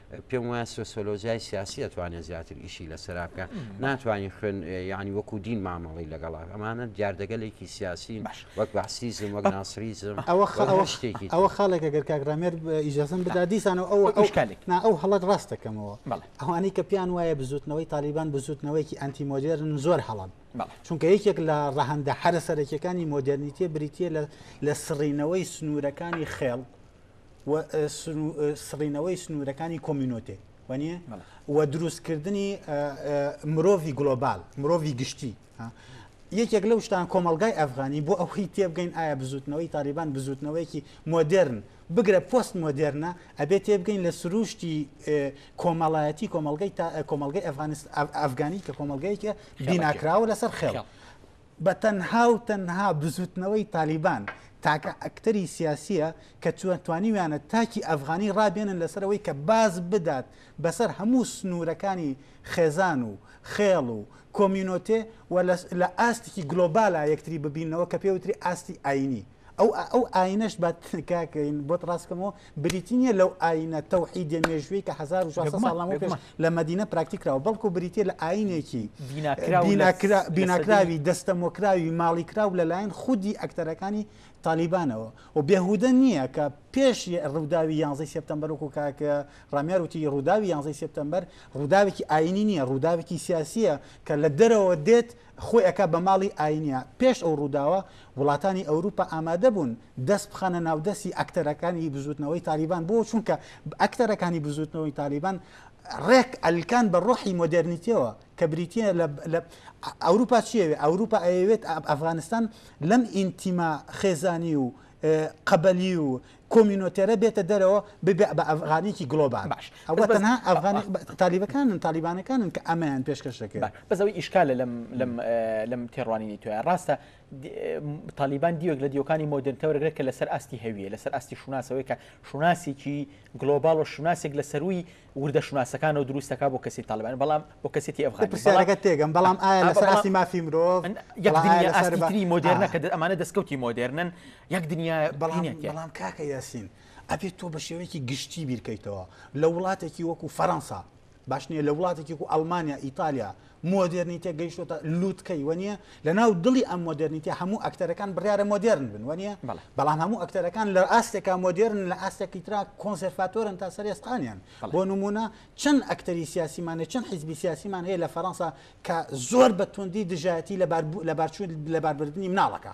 [SPEAKER 1] پێم وایە سۆسۆلۆژیای سیاسی ئەتوانێت زیاتر ئیشی لەسرا بکە ناتوانانی خوێن یعنی وەکو دین مامەڵی لەگەڵ ئەمانە دیاردەگەلێکی سیاسی وەک بەسیزم وەک ناسریزم ئەوە شتێکی ئەوە خاڵێکە گەر کاکرامێر ئیجازم بدا دیسانەوە ئەو ئەوشکالێک نا ئەو هەڵت ڕاستەکەمەوە ئەوانەی کە پیان وایە بزوتنەوەی تالیبان بزوتنەوەیکی ئەنتی مۆدێرن زۆر هەڵن چونکە یەکێک لە ڕەهندە حرە سەرەکیەکانی مۆدررنیتە بریتە لە لە سڕینەوەی سنوورەکانی خێڵ و سڕینەوەی سنوورەکانی کۆمینۆتێ وانە و دروستکردنی مرۆڤی گلۆبال مرۆڤی گشتی یەکێک لەو شتان کۆمەلگای ئەفغانی بۆ ئەوهی تێبگەین ئایا بزوتنەوەی تاریبان بزوتنەوەیەکی مۆدررن بگرە پۆست مۆدررنە ئەبێ تێبگەین لە سروشتی کۆمەڵایەتی کۆمەلگای کۆمەلگای ئەفغانست ئەفغانی کە کۆمەلگایکە بیناکراوە لەسەر خێڵ بە تەنها و تەنها بزوتنەوەی تالیبان تاکە ئەکتەری سیاسیە کە توانیویانە تاکی ئەفغانی ڕابێنن لەسەر ئەوەی کە باز بدات بەسەر هەموو سنورەکانی خێزان و خێڵ و کۆمیونۆتێ و لە ئاستێکی گلۆبالا یەکتری ببیننەوە کە پێوتری ئاستی ئاینی. ئەو ئەو ئاینەش بە کاکەین بۆت ڕاستکەمەوە بریتی نیە لەو ئاینە تەوحیدە مێژووی کە 1600 ساڵ لەمە پێش لە مدینە پراکتیکراوە بەڵکو بریتە لە ئاینێکی بیناکراوی دەستەمۆکراوی ماڵی کراو لەلایەن خودی ئەکتەرەکانی تالیبانەوە و بێهودە نییە کە پێش ڕووداوی یانزی سپتمبەر وکو کاکە ڕامیار وتی ڕووداوی یانزی سپتمبەر ڕووداوێکی ئاینی نییە ڕووداوێکی سیاسیە کە لە دەرەوە دێت خۆی ئەکا بە ماڵی ئاینیا. پێش ئەو ڕووداوە وڵاتانی ئەوروپا ئامادە بوون دەست بخەنە ناو دەستی ئەکتەرەکانی بزووتنەوەی تالیبان بۆ چونکە ئەکتەرەکانی بزووتنەوەی تالیبان ڕێک ئەلکان بە ڕۆحی مۆدێرنیتیەوە کە بریتیە لە لە ئەوروپا چیەوێ ئەوروپا ئەیەوێت ئەفغانستان لەم ئینتیما خێزانی و قەبەلی و کۆمینۆتێرە بێتە دەرەوە ببێ بە ئەفغانیکی گلۆبال باش ئەوە تەنها ئەفغانی تالیبەکانن تالیبانەکانن کە ئەمەیان پێشکەش دەکەن بەزەوەی ئیشکالە لەم لەم لەم تێڕوانینی توە ڕاستە تالیبان دیوەک لە دیوەکانی مۆدرنتەوەگرێت کە لەسەر ئاستی هەویە لەسەر ئاستی شوناسەوەی کە شوناسێکی گلۆبال و شوناسێک لە سەروی وردە شوناسەکانەوە دروست دەکات بۆ کەسێتی تاڵیبانی، بەڵام بۆ کەسێتی ئەفغانی. بەڵام پرسیارەکەت تێگەم، بەڵام ئایا لەسەر ئاستی ئەفغانی مافی مرۆڤ ئەن یەک بەڵام ئایا دنیا لەسەر ئاستی بە تری مۆدێرنە کە ئا دە ئەمانە دەسکەوتی مۆدێرنن، یەک دنیا بەڵام هینێک یە. بەڵام کاکە یاسین ئەبێت تۆ بە شێوەیەکی گشتی بیرکەیتەوە لە وڵاتێکی وەکو فەرەنسا باش نییە لە وڵاتێکی وەکو ئەڵمانیا ئیتالیا مۆدێرنیتە گەیشتۆتە لوتکەی وەنیە لە ناو دڵی ئەم مۆدێرنیتە هەموو ئەکتەرەکان بڕارە مۆدێرن بن وەنیە بەڵام هەموو ئەکتەرەکان لە ئاستێکا مۆدێرن لە ئاستێکی تررا کۆنسەرفاتۆرن تا سەر ئێسقانیان بۆ نمونە چەند ئەکتەری سیاسیمانە چەند حیزبی سیاسیمان هەیە لە فەرەنسا کە زۆر بە توندی دژایەتی لەبار لەبارچوون لەباربردننی مناڵەکە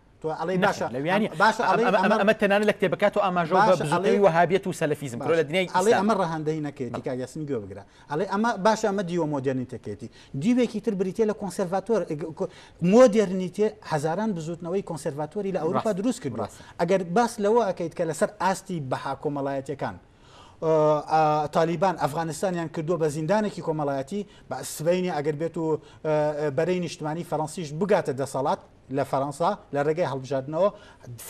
[SPEAKER 1] تۆ ئەڵێ باشە لەویانی باشە ئەمە تەنانە لە کتێبەکات و ئاماژە بەڵێ وهابێت و سەلفیزم بڕۆ لە دنیای ئەڵێ ئەمە ڕەهندەی نەکەێتی کا یاسمی گوێ بگرە ئەڵێ ئەمە باشە ئەمە دیوە مۆدررنیتەکەێتی دیوێکی تر بریتە لە کۆنسەرڤاتۆر مۆدررنیتێ هزاران بزوتنەوەی کۆنسەرڤاتۆری لە ئەوروپا دروست کرد ئەگەر باس لەوە ئەەکەیت کە لەسەر ئاستی بەها کۆمەڵایەتەکان. تالیبان ئەفغانستانیان کردووە بە زیندانێکی کۆمەڵایەتی بە سبینی ئەگەر بێت و بەرەی نیشتمانی فەرەنسیش بگاتە دەسەڵات لە فەرەنسا لە ڕێگەی هەڵبژاردنەوە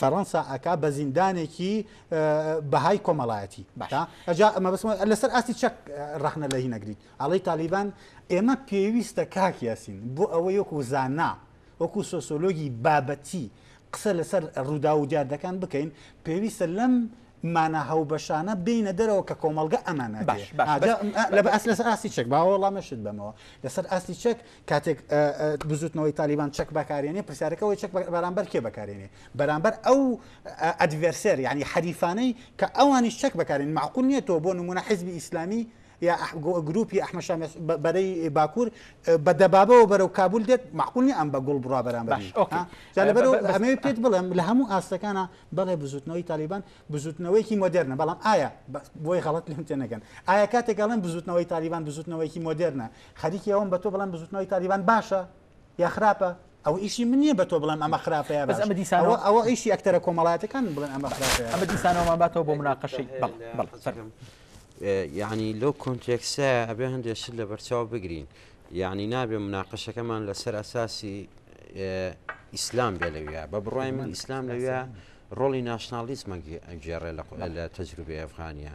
[SPEAKER 1] فەرەنسا ئەکا بە زیندانێکی بەهای کۆمەڵایەتی باشا ئەجا ئەمە بەسم لەسەر ئاستی چەک ڕخنە لە هی نەگریت ئەڵی تالیبان ئێمە پێویستە کاک یاسین بۆ ئەوە یەک و زانا وەکو سۆسۆلۆگی بابەتی قسە لەسەر ڕوودا و دیاردەکان بکەین پێویستە لەم مانا هاوبەشانە بێینە دەرەوە کە کۆمەڵگە ئەمانە دێ باش باش بەس ئا لە بەس لەسەر ئاستی چەک با وەڵامەشت بەمەوە لەسەر ئاستی چەک کاتێک ئا ئا بزوتنەوەی تالیبان چەک بەکارێنێ پرسیارەکە ئەوەی چەک بە بەرامبەر کێ بەکارێنێ بەرامبەر ئەو ئا ئەدڤێرسێر یانی حەریفانەی کە ئەوانیش چەک بەکارێن مەعقول نیە تۆ بۆ نمونە حیزبی ئیسلامی یا ئەح گۆ گروپی ئەحمە شا مێس بە بەرەی باکور ئێ بە دەبابەوە بەرەو کابول دێت مەعقول نیە ئەم بە گوڵ بڕا بەرامبەر باش ئۆکەی ها جا لە بە بە بەرەو بەس ئەمەوێ پێت بڵێم لە هەموو ئاستەکانا بەڵێ بزوتنەوەی تالیبان بزوتنەوەیەکی مۆدررنە بەڵام ئایا بۆی غڵت لێم تێ نەگەن ئایا کاتێک گەڵم بزوتنەوەی تالیبان بزوتنەوەیەکی مۆدررنە خەریکی ئەوم بە تۆ بڵم بزوتنەوەی تالیبان باشە یا خراپە ئەو ئیشی من نییە بە تۆ بڵم ئەمە خراپە یا بەمە دیسانەوە ئەوە ئیشی ئەکتەرە کۆمەڵاتەکان بڵێن ئەمە خراپە ئەمە دیسانەوەمان باتەوە بۆ مناقەشی بەڵم یعنی لەو کۆنتێکسە ئەبێ هەندێک شت لە بەرچاو بگرین یەعنی نابێ مناقەشەکەمان لەسەر ئەساسی ئیسلام بێ لەویا بە بڕای من ئیسلام لەویا ڕۆڵی ناشناڵیسمە گێڕێ لە تەجروبی ئەفغانیە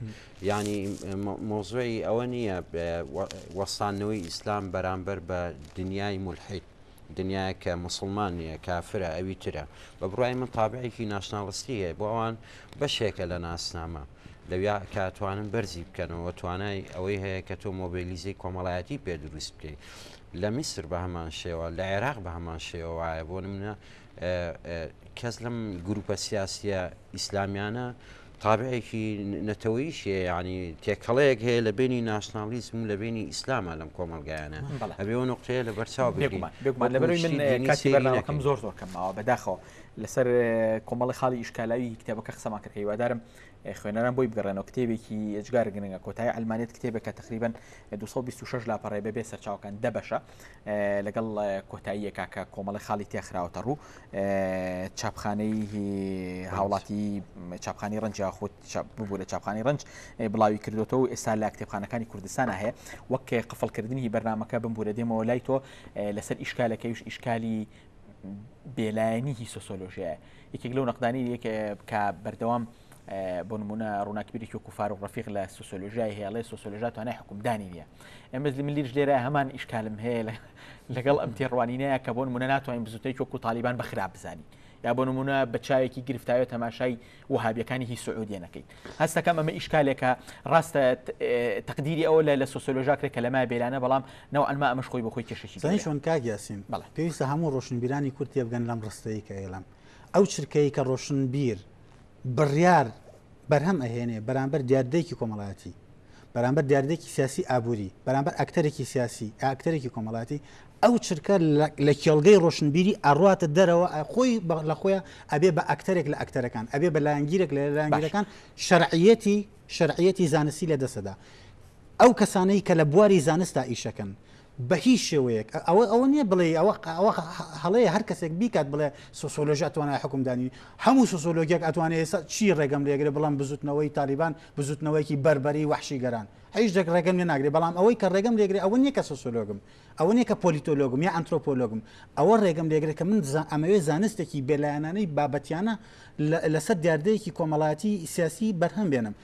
[SPEAKER 1] ینی مۆزۆی ئەوە نییە وەستانەوەی ئیسلام بەرامبەر بە دنیای مولحید دنیایەک کە موسڵمان نییە کافرە ئەوی ترە بە بڕوای من تابعێکی ناشناڵستی هەیە بۆ ئەوان بەشێکە لە ناسنامە لەویا کە توانن بەرزی بکەنەوە توانای ئەوەی هەیە کە تۆ مۆبیلیزەی کۆمەڵایەتی پێ دروست بکەیت لە میسر بە هەمان شێوە لە عێراق بە هەمان شێوە وایە بۆ منە کەس لەم گروپە سیاسیە ئیسلامیانە تابعێکی نەتەوەیش هەیە یعنی تێکەڵەیەک هەیە لە بینی ناسناڵیزم و لە بینی ئیسلامە لەم کۆمەلگایانە ئەبێەوە نقطەیە لە بەرچاو بێکم زۆر زۆر کەمەوە بەداخەوە لەسەر کۆمەڵی خاڵی ئیشکالاوی کتێبەکە قسەمان کرد هیوادارم خوێنەران بۆی بگەڕێنەوە کتێبێکی ئەجگار گرنگە کۆتای ئەلمانێت کتێبێکە تقریبان 226 لاپەڕێ بەبێ سەرچاوکان دەبەشە لەگەڵ کۆتاییە کاکە کۆمەڵی خاڵی تێخراوەتە ڕوو چاپخانەی هاوڵاتی چاپخانی ڕنج یاخود ببوورە چاپخانی ڕنج بڵاوی کردوەوە ئێستا لە کتێبخانەکانی کوردستان هەیە وەک قفڵکردنی بەرنمەکە بمبوورە دێمەوە لای تۆ لەسەر ئیشکالەکەیش ئیشکالی بێلایەنی هی سۆسۆلۆژیە یەکێک لەو نەقدانی یەکێ کە بەردەوام بۆ نمونە ڕووناکبیرێکی وەکو فاروق ڕەفیق لە سوسیۆلۆژیای هەیە ئەڵێ سوسیۆلۆژیا توانای حکومدانی نییە ئەمەز من لیش لێرە هەمان ئیشکالم هەیە لە لەگەڵ ئەم تێڕوانینەیە کە بۆ نمونە ناتوانین بزوتێک وەکو تالیبان بە خراپ بزانین یا بۆ نمونە بە چاوێکی گرفتاوە تەماشای وهابیەکانی هی سعودیە نەکەیت هەستەکەم ئەمە ئیشکالێکە ڕاستە تقدیری ئەوە لە لە سۆسۆلۆژاکرێک کە لەمای بێرانە بەڵام ناو ئەنما ئەمەش خۆی بەخۆی کێشەشی چۆن کاگیاسین بەڵ پێویستە هەموو ڕۆشنبیرانی کورتێ بگەن لەم ڕستەیە کە ئێلم ئەو چرکەیە ڕۆشنبیر بڕیار بەرهەم ئەهێنێ بەرامبەر دیاردەیەکی کۆمەڵایەتی بەرامبەر دیاردێکی سیاسی ئابووری بەرامبەر ئەکتەرێکی سیاسی ئاکتەرێکی کۆمەڵاتی ئەو چرکە لە کێڵگەی ڕۆشنبیری ئەڕاتە دەرەوە خۆی لە خۆیان ئەبێ بە ئەکتەرێک لە ئەکتەرەکان ئەبێ بە لایەنگیرێک لە لایەنگیرەکان شەرعەتی شەرعەتی زانستی لە دەسەدا ئەو کەسانەی کە لە بواری زانستا ئیشەکەن بەهیچ شێوەیەک ئەوە ئەوە نیە بڵێی ئەوە ئەوە هەڵەیە هەر کەسێک بیکات بڵێ سۆسۆلۆژی ئەتوانای حوکم دانی هەموو سۆسۆلۆگیەک ئەتوانێ ئێستا چی ڕێگەم لێگرێ بڵێم بزوتنەوەی تالیبان بزوتنەوەیەکی بەربەری وەحشی گەران هیچ دەک ڕێگەم لێ ناگرێ بەڵام ئەوەی کە ڕێگەم لێگرێ ئەوە نیە کە سۆسۆلۆگم ئەوە نیە کە پۆلیتۆلۆگم یا ئەنترۆپۆلۆگم ئەوە ڕێگەم لێگرێ کە من ئەمەوێ زانستێکی بێلایەنانەی بابەتیانە لەسەر دیاردەیەکی کۆمەڵایەتی سیاسی بەرهەم بێنم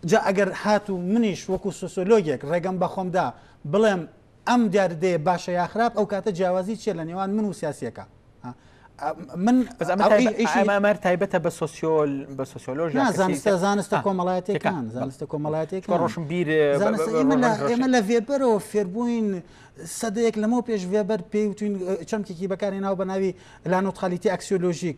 [SPEAKER 1] جا ئەگەر هاتوو منیش وەکوو سۆسۆلۆگێک ڕێگەم بە خۆم دا بڵێم ئەم دیاردەیە باشە یا خراپ ئەو کاتە جیاوازی چیە لە نێوان من و سیاسیەکە؟ من بەس ئەمە تای- ئیشی- ئیشی- ئەمە ئەمەر تایبەتە بە سۆسیۆل بە سۆسیۆلۆژ یا نا کەسی زانستە تر. زانستە آه. کۆمەڵایەتەکان تێکان. زانستە چون کۆمەڵایەتەکان ڕۆشن بیر زانستە ئێمە لە ئێمە لە ڤێبەرەوە فێربووین سەدەیەک لەمەو پێش ڤێبەر پێی وتوین چەمکێکی بەکارهێناو بە ناوی لانۆتخالیتی ئەکسیۆلۆژیک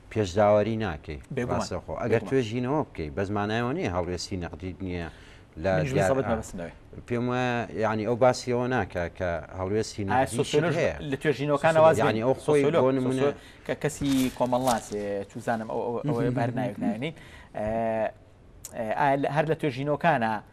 [SPEAKER 1] پێش داوەری ناکەی ڕاستەخۆ ئەگەر توێژینەوە بکەیت بەس مانایەوە نیە هەڵوێستی نەقدیت نییە لە پێم وایە ینی ئەو باسیەوە ناکە کە هەڵوێستی لە توێژینەوەکانەوە ینی ئەو خۆی لۆ نمونە کە کەسی کۆمەڵناسێ چوزانم ئەو بەرناوێک ناێنی هەر لە توێژینەوەکانە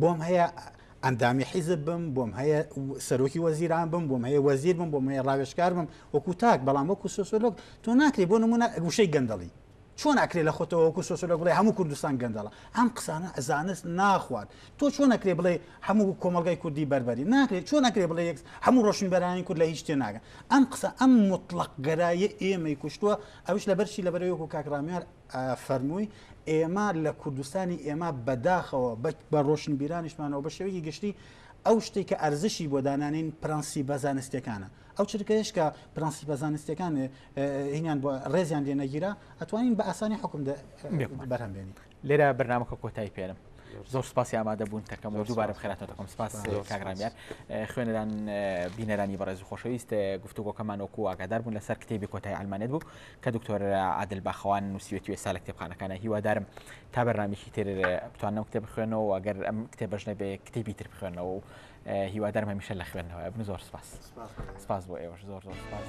[SPEAKER 1] بۆم هەیە ئەندامی حیزب بم بۆم هەیە سەرۆکی وەزیران بم بۆم هەیە وەزیر بم بۆم هەیە ڕاوێشکار بم وەکو تاک بەڵام وەکو سۆسۆلۆک تۆ ناکری بۆ نمونە گوشەی گەندەڵی چۆن ئەکرێ لە خۆتەوەکو سۆسۆلۆک بڵێ هەموو کوردستان گەندەڵە ئەم قسانە ئەزانست ناخوات تۆ چۆن نەکرێ بڵێ هەموو کۆمەلگای کوردی بەربەری ناکرێت چۆن نەکرێ بڵێ یەک هەموو ڕۆشن بەرانی کورد لە هیچ تێ ناگەن ئەم قسە ئەم مطلق گەرایە ئێمەی کوشتووە ئەوش لە بەرشی لە بەرەوەکو کاکراامیار فەرمووی، ئێمە لە کوردستانی ئێمە بە داخەوە بە ڕۆشنبیرانیشمانەوە بە شێوەیەکی گشتی ئەو شتێک کە ئەرزشی بۆ دانانین پرەنسیبە زانستیەکانە ئەو چرکەیەش کە پرەنسیبە زانستیەکان هینیان بۆ ڕێزیان لێ نەگیرا ئەتوانین بە ئاسانی حکم بەرهەم بێنین لێرە بەرنمەکە کۆتایی پێرم زۆر سپاسی ئامادە بوون تەکەم و دووبارە بخێراتەوە تەکەم سپاس کاگرامیان خوێنەران بینەرانی بەڕێز خۆشەویست گفتوگۆکەمان وەکو ئاگادار بوون لەسەر کتێبی کۆتای ئەلمانێت بوو کە دکتۆر عادل باخەوان نووسیوێتی ئێستا لە کتێبخانەکانە هیوادارم تا بەرنامێکی تر بتوانم کتێب بخوێنەوە ئەگەر ئەم کتێبەش نەبێ کتێبی تر بخوێنەوە و هیوادارم هەمیشە لە خوێندنەوە بن زۆر سپاس سپاس بۆ ئێوەش زۆر زۆر سپاس.